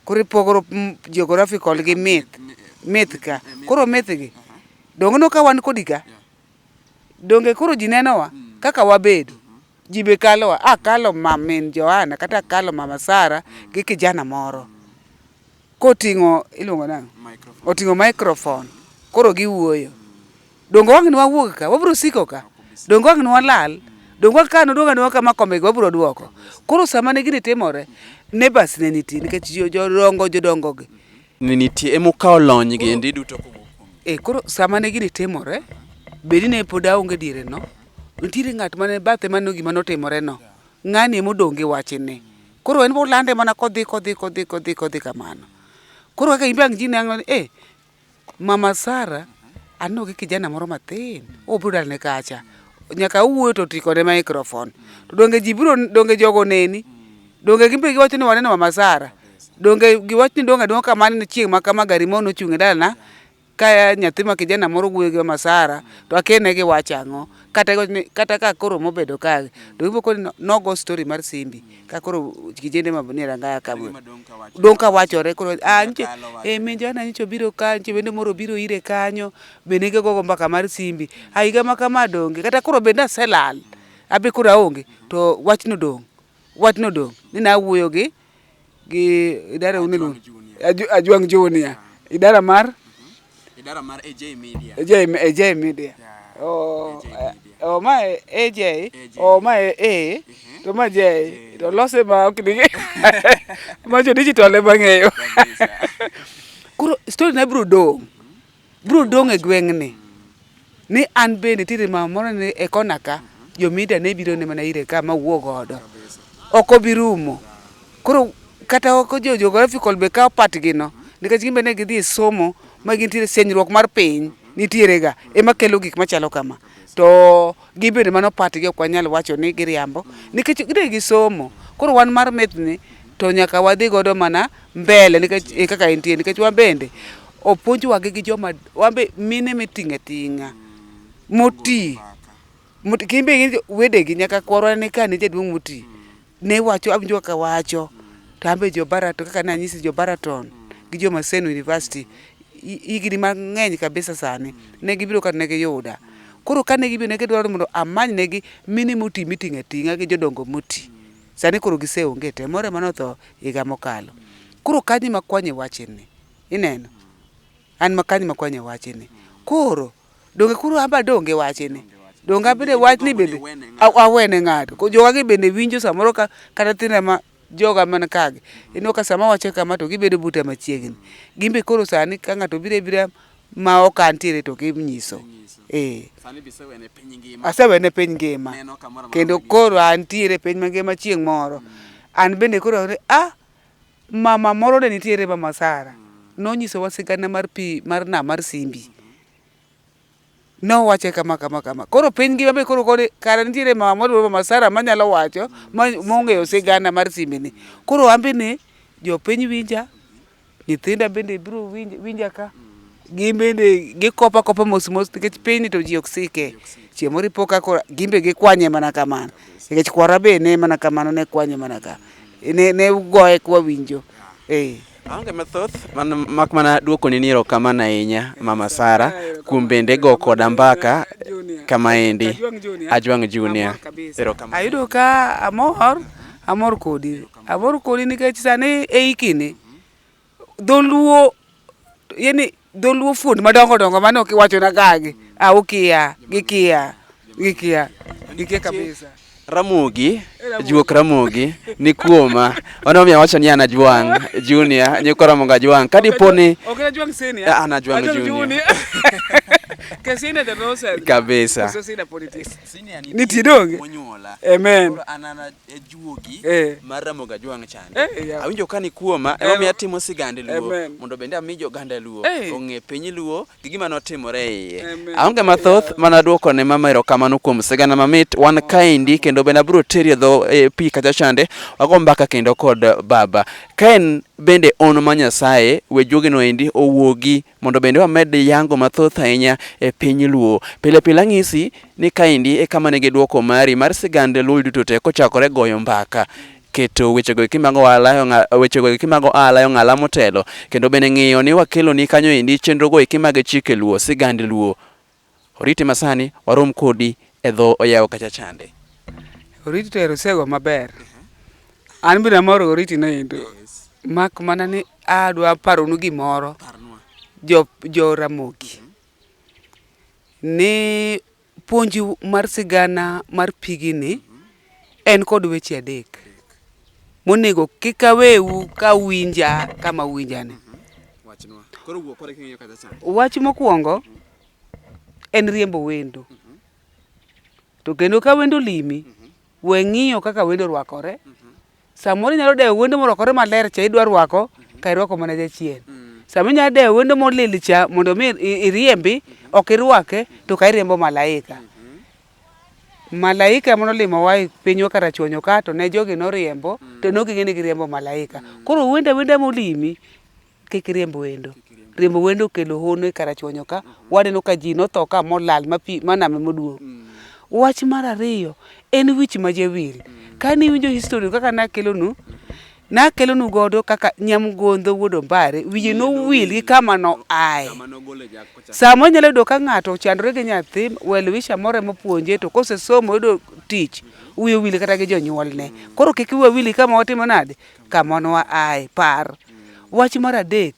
Koro ipogo geographical gi myth. Myth ka. Koro myth gi. Donge no ka wan kodi ka? Donge koro ji nenowa mm. kaka wabedo? Mm-hmm. Ji be kalowa. A ah, kalo mamin Johana kata kalo mama Sara mm. gi kijana moro. Mm. Koting'o iluongo nang'o? Oting'o microphone. Koro giwuoyo. Donge wang' ne wawuog ka? Wabiro siko ka? Donge wang' ne walal? Donge wang' ka noduogo aduoga kama kombego wabiro duoko? Koro sama ne gini timore, neighbors ne nitie nikech jo- jodongo jodongogi. Ne nitie ema ukawo lony gi endi duto kowuok kuom E koro sama ne gini timore, bedi ne pod aonge diere no, nitiere ng'at mane bathe maneno gima notimore no. Ng'ani ema odong' gi wachni. Koro en bolande mana kodhi kodhi kodhi kodhi kodhi kamano. Koro kaka in be ang' ji neno ni eh, Mama Sara aneno gi kijana moro mathin obro dalne kacha nyaka owuoyo to tiko ne microphone to donge ji bro donge jogo neni donge gimbe giwacho ni waneno Mama Sara donge giwacho ni donge donge kamano ni chieng' ma kama gari mono ochung' e dalana ka nyathi ma kijana moro wuoyo gi Mama Sara to akene gi wacha ang'o kata ni- kata ka koro mobedo kagi to ibo koni no- nogo story mar simbi ka koro kijende ma ni rangaya ka Gima dong' ka wacho. dong' ka wachore koro ah nche Kalo wacho. eh min jana nyicho biro ka nche bende moro biro ire kanyo bende ge gogo mbaka mar simbi a higa ma kama donge kata koro bende aselal abe koro aonge to wachno dong' wachno dong' ni nawuoyo gi gi idara uni lu ajwang junior idara mar idara mar AJ Media. AJ, AJ Media. Yeah. Oh, AJ Media. Uh, oh, my AJ. AJ. Oh, my A. Uh-huh. To my J. J. To lose ma ok digi. ma jo digital e bang'eyo. Koro story na bro do. bro dong' e gweng'ni ni an bende tiri mama moro ni e kona ka jomida ne biro ne mana ire ka ma wuo godo ok obi rumo koro kata ok jo geographical be kawo part gi no nikech gimbe ne gidhi e somo ma gintiere senyruok mar piny nitiere ga ema kelo gik machalo kama to gibende mano part gi ok wanyal wacho ni giriambo nikech gidhi gi somo koro wan mar methni to nyaka wadhi godo mana mbele nikech eh, kaka entie nikech wan bende opuonjwa gi joma wan be mine miting'e ting'a moti moti kimbe gi wedegi nyaka kwarwa ne ka ne jaduong' moti ne wacho awinjo kaka wacho to ambe jo Baraton kaka ne anyisi jo Baraton gi jo Maseno University higni mang'eny kabisa sani ne gibiro ka ne giyuda koro kane gibiro ne gidwaro mondo amany negi mine moti miting'e ting'a gi jodongo moti Sani koro giseonge te, moro ema notho higa mokalo. Koro kanyi makwanye wachini, ineno? An makanyi makwanye wachini. Koro, donge koro amba donge wachini? Donge abende wachni bende awene ng'ato? Ko jowagi bende winjo samoro ka kata thinda ma joga man kagi. Ineno ka sama wacho kama to gibedo buta machiegni. Gimbe koro sani ka ng'ato bire bira ma ok antiere to ginyiso eh. asewene piny ngima kendo koro antiere piny mangima chieng' moro mm. an bende koro a ah, mama moro ne nitiere mama Sara mm. nonyisowa sigana mar pi mar nam mar simbi mm-hmm. nowache kama kama kama koro piny ngima be koro kore kara nitiere mama moro mama Sara manyalo wacho mm. mong'eyo sigana mar simbini koro an bende jopiny winja Nyithinda bende biro winj, winja ka gin bende gikopa kopa mos mos nikech piny ni to ji ok sike. Chieng' moro ipo ka koro gin be gikwanye mana kamano. Nikech kwara be ne mana kamano ne kwanye mana ka. Ne, ne ugoye kwa winjo. Eh. Aonge mathoth man mak mana duoko ni niro kama na inya mama Sara kuom bende go koda mbaka kama endi Ajwang Junior. Ero kama. Ayudo ka amor, amor kodi. Abor kodi nikech sani e ikini dholuo yani dholuo fuond madongo dongo mane ok iwacho na gagi a ukia gikia gikia gikia kabisa Ramogi juok Ramogi ni kuoma ono mi awacho ni anajwang junior ni kora monga jwang kadi poni ok na jwang senior ah, ana jwang junior kesine the nonsense kabisa senior ni tidonge amen juogi eh. mar Ramogi Ajwang' chande. Eh, yeah. Awinjo ka ni kuoma ema miyo atimo sigande Luo mondo bende ami joganda Luo eh. ong'e piny Luo gi gima notimore iye. Aonge mathoth mana duoko ne mama erokamano kuom sigana mamit wan kaendi kendo bende abiro teri e dho e pi kacha chande wago mbaka kendo kod baba. Ka en bende on ma Nyasaye we juogino endi owuogi mondo bende wamed yango mathoth ahinya e piny Luo. Pile pile ang'isi ni kaendi e kama nigi dwoko mari mar sigand Luo duto te kochakore goyo mbaka keto wechego eki mag ohala wechego eki mag ohala e ong'ala motelo kendo bende ng'iyo ni wakeloni kanyo endi chenrogo eki mag chike Luo sigand Luo Oriti masani warom kodi e dho oyawo kacha chande. Oriti to erusego maber. An bende amor oriti no endo. Mak mana ni adwa paronu gimoro jo, jo Ramogi. Ni puonju mar sigana mar pigini En kod weche adek monego kik awewu ka uwinja kama uwinjane. Wachnwa. Koro wuo kore king'iyo kacha cha. Wach mokwongo en riembo wendo. To kendo ka wendo limi, we ng'iyo kaka wendo orwakore, Samoro inyalo dewo wendo morwakore maler cha idwa rwako ka irwako mana jachien. Mm. Sama inyalo dewo wendo molil cha mondo mi iriembi mm-hmm. ok irwake to ka iriembo malaika. Mm-hmm. Malaika mano limo wa pinywa kata chuonyo ka to ne jogi noriembo mm. to noging'e ni giriembo malaika. Mm. Koro wenda wenda molimi Kik iriemb wendo. Riembo wendo okelo hono e Karachuonyo ka, waneno ka ji notho ka molal ma pi ma nam emoduogo. Wach mar ariyo en wich ma jawil. Kane iwinjo history kaka nakelonu, nakelonu godo kaka Nyamgondho wuod Ombare, wiye nowil gi kama noaye. Sama onyalo yudo ka ng'ato ochandore gi nyathi, well wisher moro ema opuonje to kosesomo oyudo tich, wiye owil kata gi jonyuolne. Koro kik wiwa wil gi kama watimo nade, ka monwa ae. Par wach mar adek,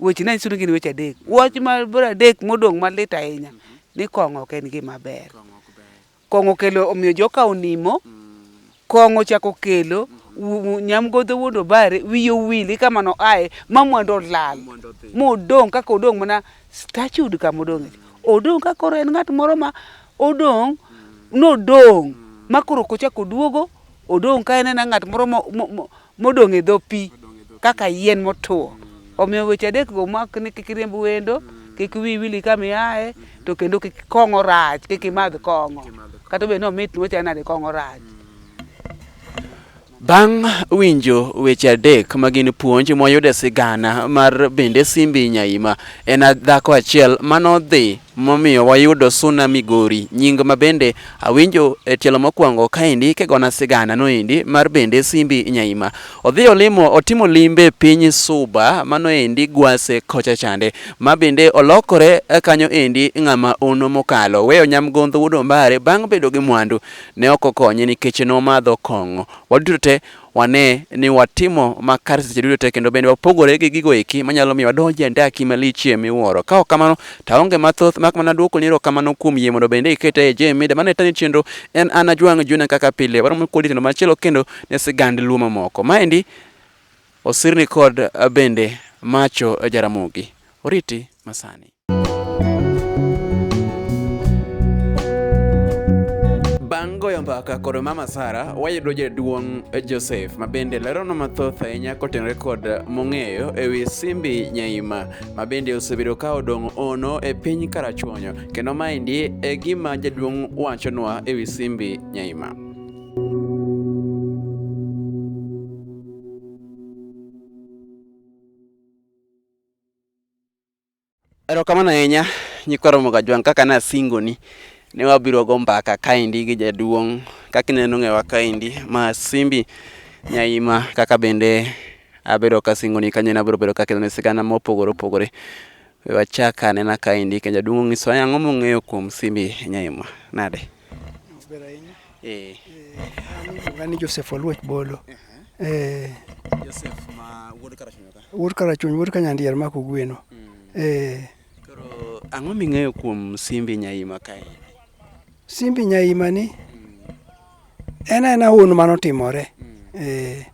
weche ne anyiso ni gin weche adek. Wach mar mar adek modong' malit ahinya ni kong'o ok en gima ber. Kong'o okelo omiyo joka onimo, kong'o ochako kelo wu- wu- nyamgodho wuod obare wiye owil eka mano ae ma mwandu olal modong' kaka odong' mana stachud kama odong'e odong' ka koro en ng'at moro ma odong' nodong' ma koro kochako oduogo Odong' ka en ena ng'at moro modong' e dho pi kaka yien motuwo. Omiyo weche adek go mak ni kik iriemb wendo, kik wi wili kama iaye, to kendo kik kong'o rach, kik imadh kong'o. Kata obedo ni omit ni wachal nade kong'o rach. Bang' winjo weche adek ma gin puonj moyudo e sigana mar bende Simbi Nyaima, en dhako achiel manodhi momiyo wayudo suna Migori nying ma bende awinjo e tielo mokwongo kaendi kigona sigana noendi mar bende Simbi Nyaima odhi olimo otimo limbe piny Suba mano endi Gwase kocha chande ma bende olokore e kanyo endi ng'ama ono mokalo weyo nyamgondho wuod Ombare bang' bedo gi mwandu ne ok okonye nikech nomadho kong'o waduto te wane ni watimo ma kare seche duto te kendo bende wapogore gi gigo eki manyalo miyo wadonj e andaki malichie miwuoro. Ka ok kamano to aonge mathoth mak mana duoko ni erokamano kuom yie mondo bende iketa e J Media. Mano e tani chenro en an Ajwang' Junior kaka pile. Waromo kodi tendo machielo kendo ne sigand Luo mamoko. Maendi osirni kod bende Macho Jaramogi. Oriti masani. goyo mbaka kod mama Sara, wayudo jaduong' Joseph ma bende leronwa mathoth ahinya kotenore kod mong'eyo e wi Simbi Nyaima ma bende osebedo ka odong' ono e piny Karachuonyo, kendo maendi e gima jaduong' wachonwa e wi Simbi Nyaima. Erokamano ahinya nyikwa Romo Gajwang' kaka ne asingoni ne wabiro go mbaka kaendi gi jaduong' kaka ineno ng'ewa kaendi ma Simbi Nyaima kaka bende abedo kasingoni kanyo ne abiro bedo kakelone sigana mopogore opogore. We wachak anena kaendi kendo jaduong' ong'isowa ang'o mong'eyo kuom Simbi Nyaima. Nade? Eh. Iluonga ni Joseph Oluoch Bolo. Eh. Joseph ma wuod Karachuonyo ka. Wuod Karachuonyo, wuod Kanyandier ma Kogweno. Mm. Eh. Koro ang'o ming'eyo kuom Simbi Nyaima kae? Simbi Nyaima ni mm. en aena hono mane otimore. Mm. Eh.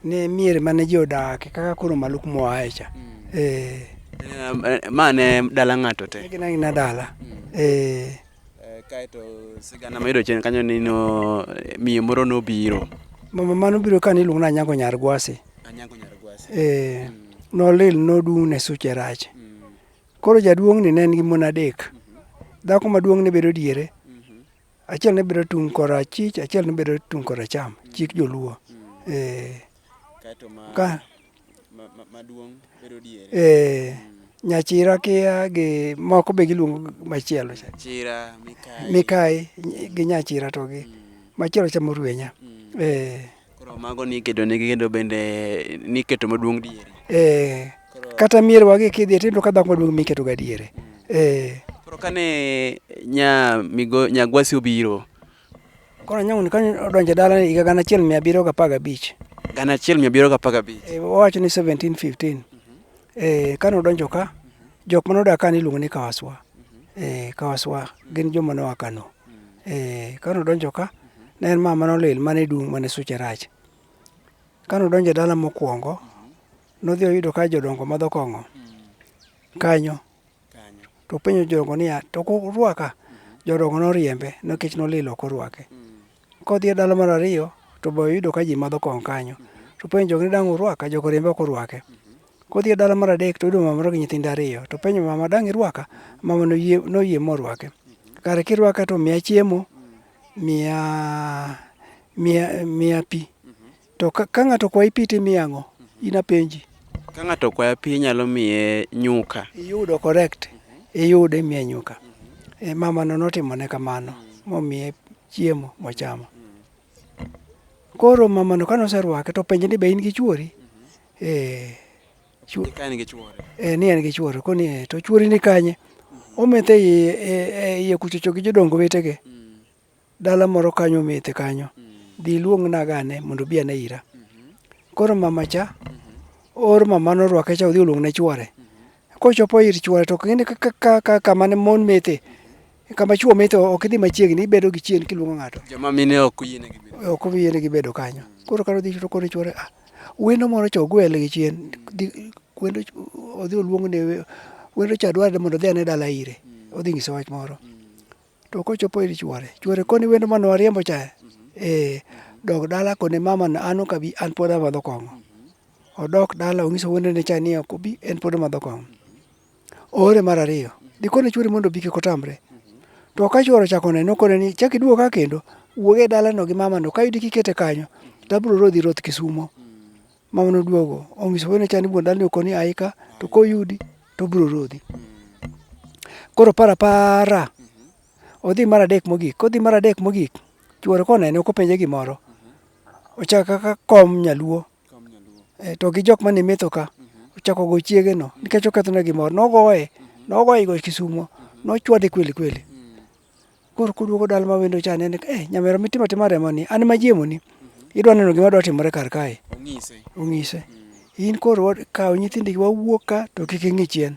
Ne mier mane ji odakie kaka koro Maluk moaye cha. Eh. eh ma ne dala ng'ato te. Gin aina dala. Eh. Eh, kaeto sigana mayudo chien kanyo ni no eh, miyo moro nobiro mama mano biro ka niluongo ni anyango nyar gwasi anyango nyar gwasi eh mm. nolil nodung' ne suche rach mm. koro jaduong' ni ne en gi mon adek mm-hmm. dhako maduong' ne bedo diere mm-hmm. achiel ne bedo tung' korachich achiel ne bedo tung' koracham mm. chik joluo mm. eh Ee, nyachira kia gi moko be giluongo machielo cha. Chira, mikai. Mikai gi nyachira to gi. Mm. Machielo cha morwenya. Mm. Ee. Koro mago ni kedo ne gi kendo bende ni keto maduong' diere. Ee. Kata mier wagi kidhi tindo ka dhako maduong' miketo ga diere. Mm. Ee. Koro kane nya migo nyagwasi obiro Koro anyang'oni ka odonjo e dala ni higa gana achiel mia abiriyo gapar gabich. Gana achiel mia abiriyo gapar gabich. Eh, Owacho ni 1715. Eh, kane odonjo ka, jok mane odak ka niluongo ni Kawaswa. Eh, Kawaswa gin joma noa Kano. Eh, kane odonjo ka, ne en mama nolil mane dung' mane suche rach. Kane odonjo e dala mokwongo, nodhi oyudo ka jodongo madho kong'o kanyo. To openjo jodongo niya, to kurwaka? Jodongo noriembe nikech nolil ok orwake. Kodhi e dala mar ariyo to be oyudo ka ji madho kong'o kanyo. To openjo jogo ni dang' urwaka? Jogo oriembe ok orwake. Kodhi e dala mar adek to oyudo mama moro gi nyithinde ariyo. To openjo mama dang' irwaka? Mama noyie, noyie morwake. Kare kirwaka to miya chiemo, miya, miya, miya pi. To ka, ka ng'ato kwayi pi timiye ang'o? In apenji. Ka ng'ato okwaya pi inyalo miye nyuka. Iyudo correct. Iyudo imiye nyuka. E, mamano notimone kamano momiye chiemo mochamo. Koro mamano kane oserwake to openje ni be in gi chwori? Eh, chwo- Ni ka en gi chwore. eh, ni en gi chwore. Koni eh, to chwori ni kanye? Ometho e iye, e- e iye kuchocho gi jodong wetege. Dala moro kanyo omethe kanyo. Dhi iluong naga ane mondo obi ane ira. Koro mama cha oor mama norwake cha odhi oluong ne chwore. Kochopo ir chwore to ok ng'e ni ka- ka- ka- ka- kama ne mon methe, kama chwo methe ok idhi machiegni, ibedo gi chien kiluongo ng'ato. Joma mine ok oyienegi bedo. ok oyienegi bedo kanyo. Koro kane odhi to koro chwore ah, wendo moro cha ogwel gi chien, dhi wendo ch- odhi oluong ne we- wendo cha dwarore mondo odhi ane dala ire, odhi nyise wach moro. to kochopo ir chwore chwore koni wendo mane wariembo cha eh dog dala koni mama na an okabi an pod amadho kong'o odok dala onyiso wende ne cha ni ok obi en pod omadho kong'o ore mar ariyo dikone chwore mondo obi kik otamre to ka chwore chako neno kone ni chak iduog ka kendo wuog e dalano gi mamano ka iyudi kikete kanyo to abiro rodhi roth kisumo Mama noduogo onyiso wuode cha ni wuon dalani okoni aika to koyudi to obiro rodhi. Koro para para odhi mar adek mogik kodhi mar adek mogik chuore konene ok openje gimoro ochako kaka kom nyaluo e, to gi jok mane metho ka ochako go chiege no nikech okethone gimoro nogoye nogoye go Kisumo nochwade kweli kweli. Koro kuduogo dala ma wendo cha nene ka eh nyamera mitimo atima remo ni an ma jiemo ni. Idwa neno gima dwa timore kar kae. Ong'ise. Ong'ise. In koro wa- kaw nyithindi gi wawuok ka to kik ing'i chien.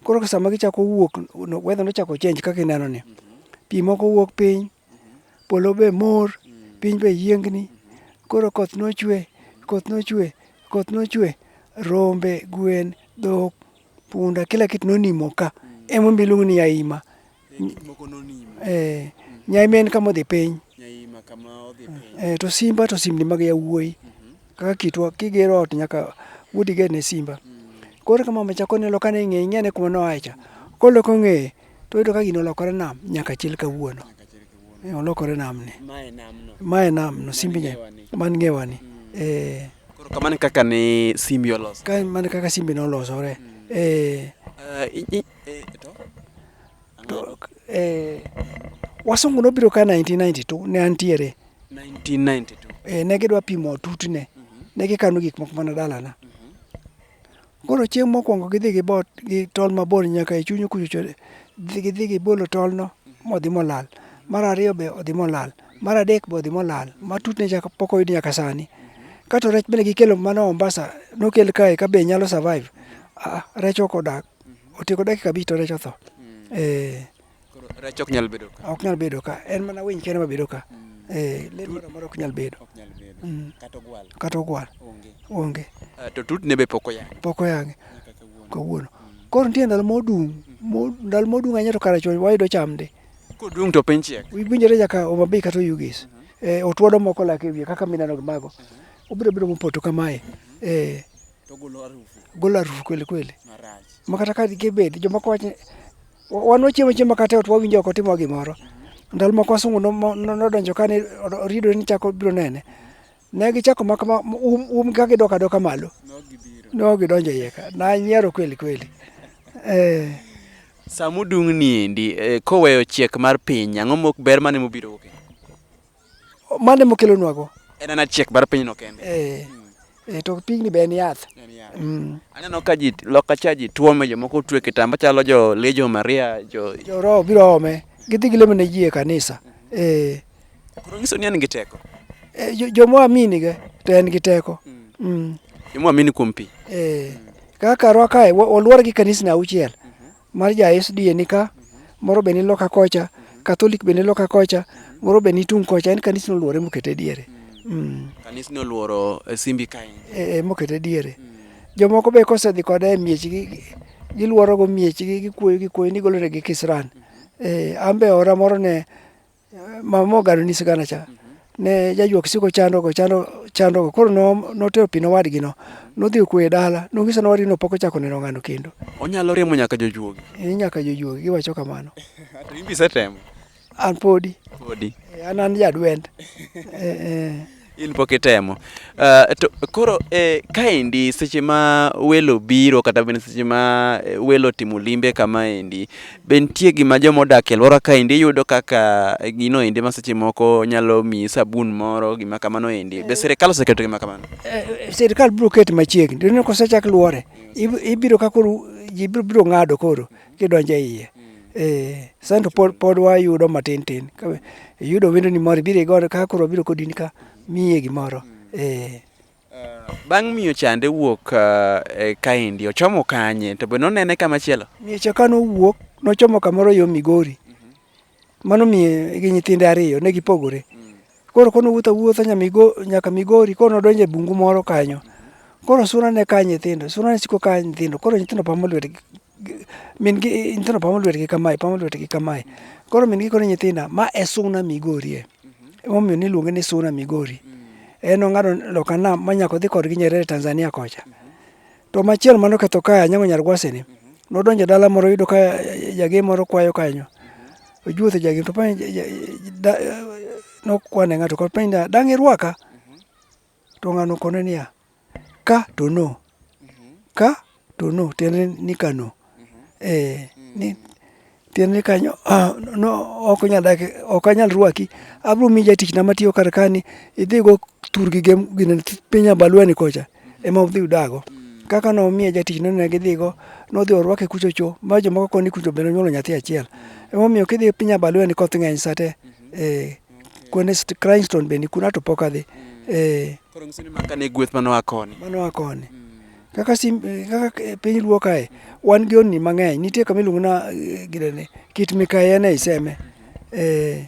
Koro ka sama gichako wuok no- weather nochako change kaka ineno ni. Pi moko wuok piny, polo be mor, piny be yiengni. Koro koth nochwe, koth nochwe, koth nochwe. Rombe, gwen, dhok, punda kila kitu nonimo ka. Emomiyo iluongo ni yaima. eh, nyaima en kama odhi piny eh, to simba to simni mag yawuoyi kaka kitwa kigero ot nyaka wuodi ger ne simba koro kama macha konelo kane ing'e ing'ene kuma noaye cha koloko ng'eye to oyudo ka gino olokore nam nyaka chil kawuono Eh, olokore nam ni mae nam no simbi nya man ngewani eh, Koro kamano e kaka ne simbi oloso ka mano kaka simbi nolosore eh, Eh, i- i- Eh, wasungu nobiro ka 1992 ne antiere 1992 eh, ne gidwa pimo tutne mm -hmm. ne gikano gik moko mana dalana mm -hmm. koro chieng' mokwongo gidhi gi bot gi tol mabor nyaka e chunyu kuchocho gidhi gi bolo tolno mhm. modhi molal mar ariyo be odhi molal mar adek be odhi molal ma tutne chaka pok oyud nyaka sani mhm. kato rech bende gikelo mana Mombasa nokel kae ka be nyalo survive ah, rech ok odak Otieko dakika abich to rech otho. Mm. Eh. Koro rech ok nyal bedo ka. Ok nyal bedo ka. En mana winy kende ma bedo ka. Mm. Eh, le moro moro ok nyal bedo. Ok nyal bedo. Mm. Kata ogwal. Kata ogwal. Onge. Onge. Uh, to tut ne be pok oyange. Pok oyange. Kawuono. Mm. Koro nitie ndalo modung. Mm. Ndalo modung ahinya to kare chon wayudo cham ndi. Kodung to piny chiek. Winjore nyaka Omabei kata Oyugis. Mm -hmm. Eh, otwodo moko lake wiye kaka mineno mago. Mm -hmm. Obiro biro mopoto kamae. Mm -hmm. Eh. golo arufu kweli kweli makata ka kibed jomoko wacho wan wachiemo chiemo kata e ot wawinjo oko timo gimoro ndalo moko wasungu nodonjo kane oridore ni chako biro nene ne gichako mak um, um ka gidok adoka malo ne ok gidonjo iye ka nanyiero kweli kweli eh. samudung' ni endi eh, koweyo chiek mar piny ang'o mok ber mane mubiro wuok Mane mokelonwago? En ana chiek mar pinyno kende. Eh, eh, to pigni be en yath. Mm. Aneno ka ji loka cha ji tuome jomoko tue kitamba chalo jo Legion of Maria jo Joroho biro ome, gidhi gilemo ne ji e kanisa. Eh, koro nyiso ni en gi teko. eh, jo- joma aminiga to en gi teko. Mm. Jomwa amini kuom pi. Eh, kaka rwa kae wa- olwor gi kanisni auchiel Mar ja SDA ni ka, moro be ni loka kocha, Catholic be ni loka kocha, moro be ni tung' kocha. En kanisni oluore mokete e diere. Mm. Kanisni oluoro eh, Simbi kae. E, e, mokete e diere. Jomoko be kosedhi kode e miechgi, gi- giluorogo miechgi, gikuoyo gikuoyo ni golonegi kisran. E, an be ora moro ne Mamo gado ni sigana cha. Ne jajuok siko chando go chando chando go. Koro no notero pino wadgi no. Nodhi kwe dala. Nongiso no wadgi no poko chako neno ngano kendo. Onyalo remo nyaka jojuogi. Ni nyaka jojuogi giwacho kamano. To imbi setemo. An podi. Podi. Eh, an an jadwend. Eh, eh. in pok itemo uh, to koro eh, kaendi seche ma welo biro kata bende seche ma eh, welo timo limbe kama endi be nitie gima joma odak e alwora kaendi yudo kaka gino endi ma seche moko nyalo miyi sabun moro gima kamano endi be sirikal oseketo gima kamano eh, eh, sirikal biro ket machiegni to kosechak luore ibiro ka koro ji biro ng'ado koro gidonjo e iye eh, sani to pod, pod wayudo matin tin Ka iyudo wendoni moro ibiro igodo ka koro wabiro kodini ka miye gimoro eh. Bang' miyo chande wuok ah, eh, kaendi ochomo kanye to be nonene kamachielo? Miecha ka nowuok nochomo kamoro yo Migori Mano miye gi nyithinde ariyo ne gipogore. Koro kono wuotho awuotha nyaka Migori, koro nodonjo e bungu moro kanyo. Koro suna ne ka nyithindo, suna ne siko ka nyithindo, koro nyithindo pamo lwetgi, min gi nyithindo pamo lwetgi kamae, pamo lwetgi kamae. Koro min gi kone nyithinda, ma e suna Migorie. Emomiyo niluonge ni suna Migori. En nong'ado loka nam ma nyaka odhi kodgi Nyerere Tanzania kocha. To machielo mano ketho kae anyango nyar gwasi ni. Nodonjo dala moro yudo ka jage moro kwayo kanyo. Ojuotho jage to penj nokwane ng'ato kod penj niya, dang' irwaka? To ng'ano kone niya, ka to no. Ka to no tiende ni kano. eh, ni tiende kanyo ah, no, ok onyal dak ok anyal rwaki abiro miyi jatichna matiyo kar kani idhigo turgi gi gine piny abalweni kocha ema udhi udago kaka nomiye jatichna ne gidhigo nodhi orwake kucho cho ma jomoko koni kucho bende onyuolo nyathi achiel emomiyo kidhi piny abalweni koth ng'eny sa te eh, kuonde st- Cranston bende kuna to pok adhi eh, Koro ng'isoni maka ne gweth mano a koni. mano a koni Kaka sim, kaka piny luo kae wan gi onni mang'eny. Nitie kama iluongo na eh, gidene kit mikayi en ei seme. Eh,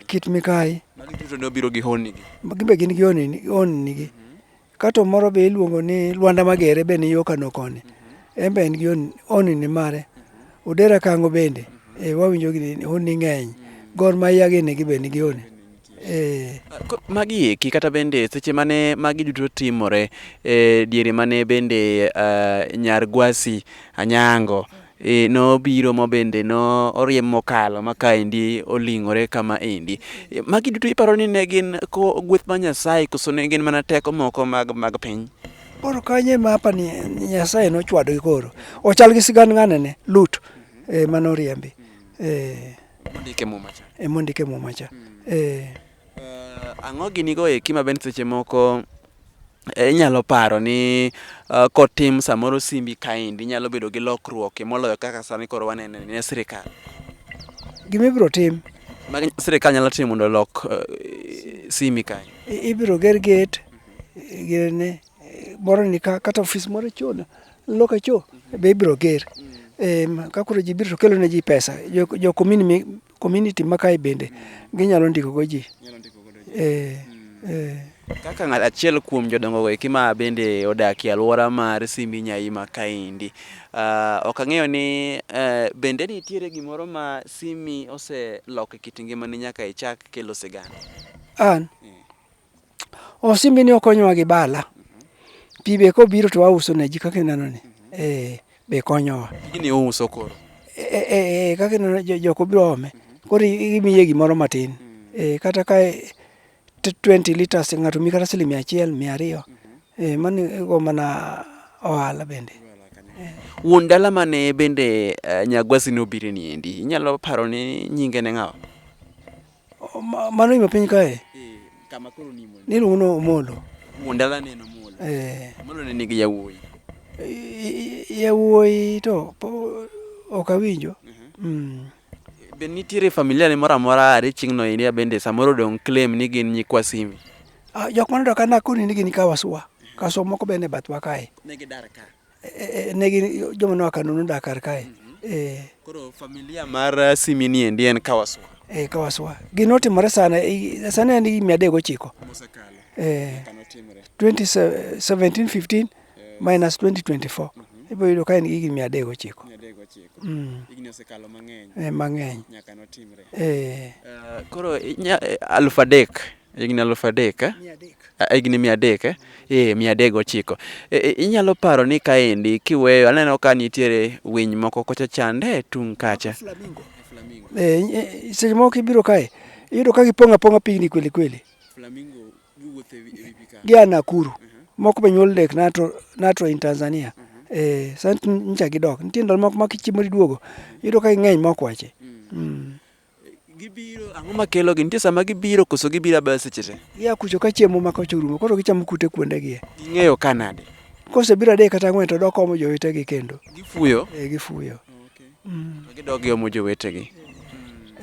kit mikayi. Magi duto ne obiro gi honni gi. Gimbe gin gi onni onni gi. Kato moro be iluongo ni Lwanda Magere be ni yo Kano koni. En be en gi onni onni ni mare. Odera Kango bende eh, wawinjo gini onni ng'eny. Gor Mahia gini gi be ni gi onni. Ee. Magi eki kata bende seche mane magi duto timore e, diere mane bende uh, nyar Gwasi Anyango e, nobiro ma bende no oriem mokalo ma kaendi oling'ore kama endi. E, magi duto iparo ni ne gin ko gweth ma Nyasaye koso ne gin mana teko moko mag, mag piny? Koro kanye ma apa ni Nyasaye nochwadogi koro. Ochal gi sigand ng'ane ne Lut e, manoriembi. E, Mondike muma cha. E mondike muma cha. Hmm. Eh. Uh, ang'o gini go eki ma ben seche moko eh, inyalo paro ni uh, kotim samoro simbi kaendi inyalo bedo gi lokruok e moloyo kaka sani koro wanene ne sirikal. Gima ibiro tim. Ma sirikal nyalo timo mondo lok uh, simi kae. Ibiro ger gate gene moro ni ka kata ofis moro cho loka cho be ibiro ger em ka koro ji biro to kelo ne ji pesa jo, jo community, community ma kae bende ginyalo ndiko go ji eh, eh. Kaka ng'at achiel kuom jodongo eki ma bende odak e alwora mar Simbi Nyaima kaendi, uh, ok ang'eyo ni uh, bende nitiere gimoro ma Simi oseloko e kit ngimani nyaka ichak kelo sigana? An Osimbi ni okonyowa gi bala. Pi be kobiro to wauso ne ji kaka ineno ni. Eh, be konyowa. Gini uso koro. Eh, eh, eh, kaka ineno jo- jok obiro ome. Koro i- imiye gimoro matin. Eh, kata ka eh, t- 20 liters ng'ato mi kata siling mia achiel, mia ariyo. Eh, mano igo mana ohala bende. Wuon dala mane bende eh, Nyagwasi nobire ni endi. Inyalo paro ni nyinge ne ng'awa? Mano ima piny kae. Eh, kama koro ni Omolo. Niluongo ni Omolo. Mondala ne en Omolo. Eh. Omolo ne nigi yawuoyi. Yawuoyi to ok awinjo. Mhm. Mm. Be nitiere familia ne moro amora are chieng'no iria bende samoro dong' claim ni gin nyikwa Simi? Ah, jok manodak ka Nakuru ni gin ka Waswa. Kaso moko be ne bathwa kae. Ne gidar ka. Eh, eh, negi joma noa Kano nodak kar kae. Mhm. Eh. Koro familia mar eh, Simi ni endi en Kawaswa. Eh, Kawaswa. Gino timore sana sana en mia adek gochiko. Mosekalo. Eh. 2017 15 minus 2024. Mhm. Ibo yudo ka en gi mia adek gochiko. Mia adek gochiko. Mm. Igni osekalo mang'eny. Eh, mang'eny. Nyaka notimre. Eh. Uh, koro aluf adek. Higni aluf adek eh? higni mia adek eh? ee eh, mia adek gochiko e, e, inyalo paro ni kaendi kiweyo aneno ka nitiere winy moko kocha chande tung' kacha seche moko ibiro kae iyudo ka gipong' apong'a pigni kweli kweli gi a Nakuru uh-huh. moko be nyuol dek nato nato in Tanzania uh-huh. eh sani ncha gidok nitie ndalo moko ma kichiemo iduogo iyudo ka ging'eny mok wache mm. mm. Gibiro ang'o makelo gi? Nitie sama gibiro koso gibiro abaya seche te? Gia kucho ka chiemo ma kocho rumo koro gichamo kute kuonde gi. Ging'eyo ka nade? Kose biro adek kata ang'wen to dok omo jowetegi kendo. Gifuyo? Eh, gifuyo. Okay. Mm. Gidok giomo jowetegi.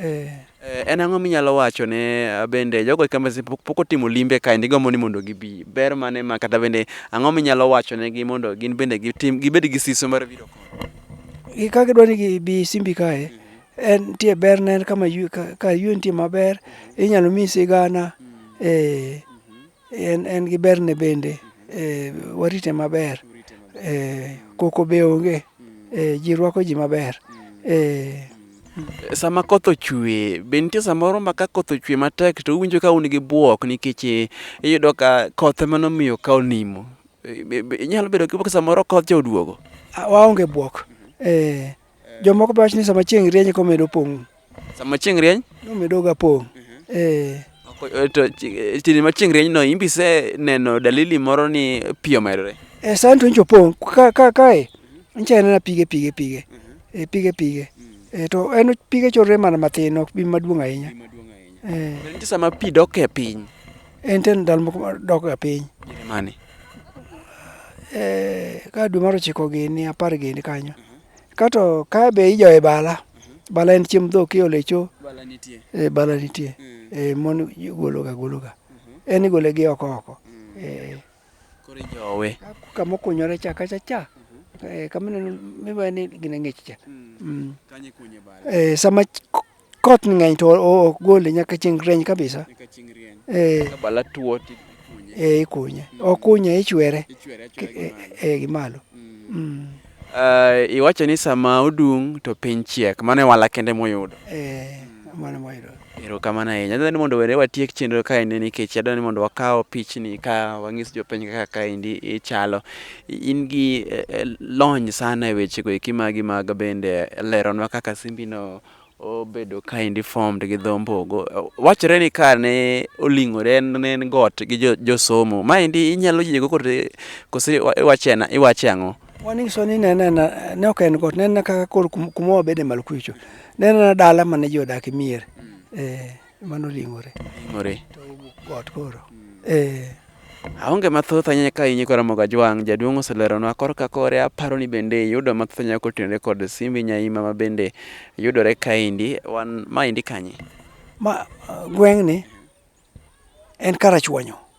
Eh. Eh, en ang'o minyalo wacho ne ah, bende jogo kama pok otimo limbe kae ndi gombo ni mondo gibi ber mane ma kata bende ang'o minyalo wacho ne gi mondo gin bende gitim gibed gi siso mar biro ka gidwa ni gibi simbi kae en nitie ber ne en kama ywe- ka- ka ywe nitie maber inyalo miyi sigana eh, en, en gi berne bende eh, warite maber eh, koko be onge eh, ji rwako ji maber eh, Sama koth ochwe, be nitie samoro ma ka koth ochwe matek to uwinjo ka un gi bwok nikech eh, iyudo ka koth ema nomiyo ka onimo. Eh, be- be- Inyalo bedo gi bwok samoro koth cha oduogo. a- waonge bwok eh, Jomoko be wacho ni sama chieng' rieny eka omedo pong'. Sama chieng' rieny? Omedoga pong'. Mhm. Eh. eh to chieng' ma chieng' rienyno in be iseneno dalili moro ni pi omedore? Eh, sani to nyicha opong' ka ka kae nyicha anena pige pige pige. Mhm. Eh, pige pige. Mhm. Eh, to en pige chorre mana matin ok bi maduong' ahinya. Eh. Nitie sama pi dok e piny. En ten ndalo moko dok e piny. Mani. eh, ka dwe mar ochiko gini apar gini kanyo kato ka be ijoye bala bala en chiemb dhok iole e cho bala nitie e, bala nitie mm. e, mon gologa gologa mm-hmm. en igole gi oko oko mm. e, koro ijowe kama okunyore cha kacha cha mm-hmm. e, kama ineno miwa ni gine ng'ich cha mm. mm. e, sama Koth ng'eny to ok gole nyaka chieng' rieny kabisa. Nyaka chieng' rieny. Eh. Ka bala tuo ti eh ikunye. Mm. Okunye ichwere. Ichwere achwere eh, gimalo. Eh, eh gimalo. Mm. Mm. Uh, iwacho ni sama odung' to piny chiek mano e wala kende moyudo eh, mano moyudo erokamano ahinya adwani mondo were watiek chenro kaendi nikech adwani mondo wakaw pichni ka wang'is jopiny kaka kaendi ichalo in gi eh, eh, lony sana e wechego eki magi mag bende leronwa kaka simbino obedo kind formed gi dho mbogo. Wachore ni ka ne oling'ore ne en got gi josomo. Jo Maendi inyalo yiego kote kose iwache ang'o? Wanyiso ni ne nena ne ok en got, ne nena kaka kor kuma wabede malo kucho. Ne nena dala mane ji odake mier. Eh. mano ling'ore ling'ore to owuok got koro eh Aonge mathoth ahinya ka inyi kora moga jwang' jaduong' oseleronwa kor ka kore aparo ni bende yudo mathoth ahinya kotenore kod simbi nyaima ma bende yudore kaendi wan maendi kanye ma gweng'ni en karachuonyo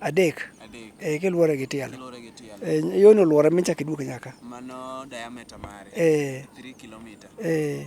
Adek. Adek. Eh, kiluore gi tielo. Kiluore gi tielo. Eh, yono luore michak iduog nyaka. Mano diameter mare. Eh. 3 km. Eh.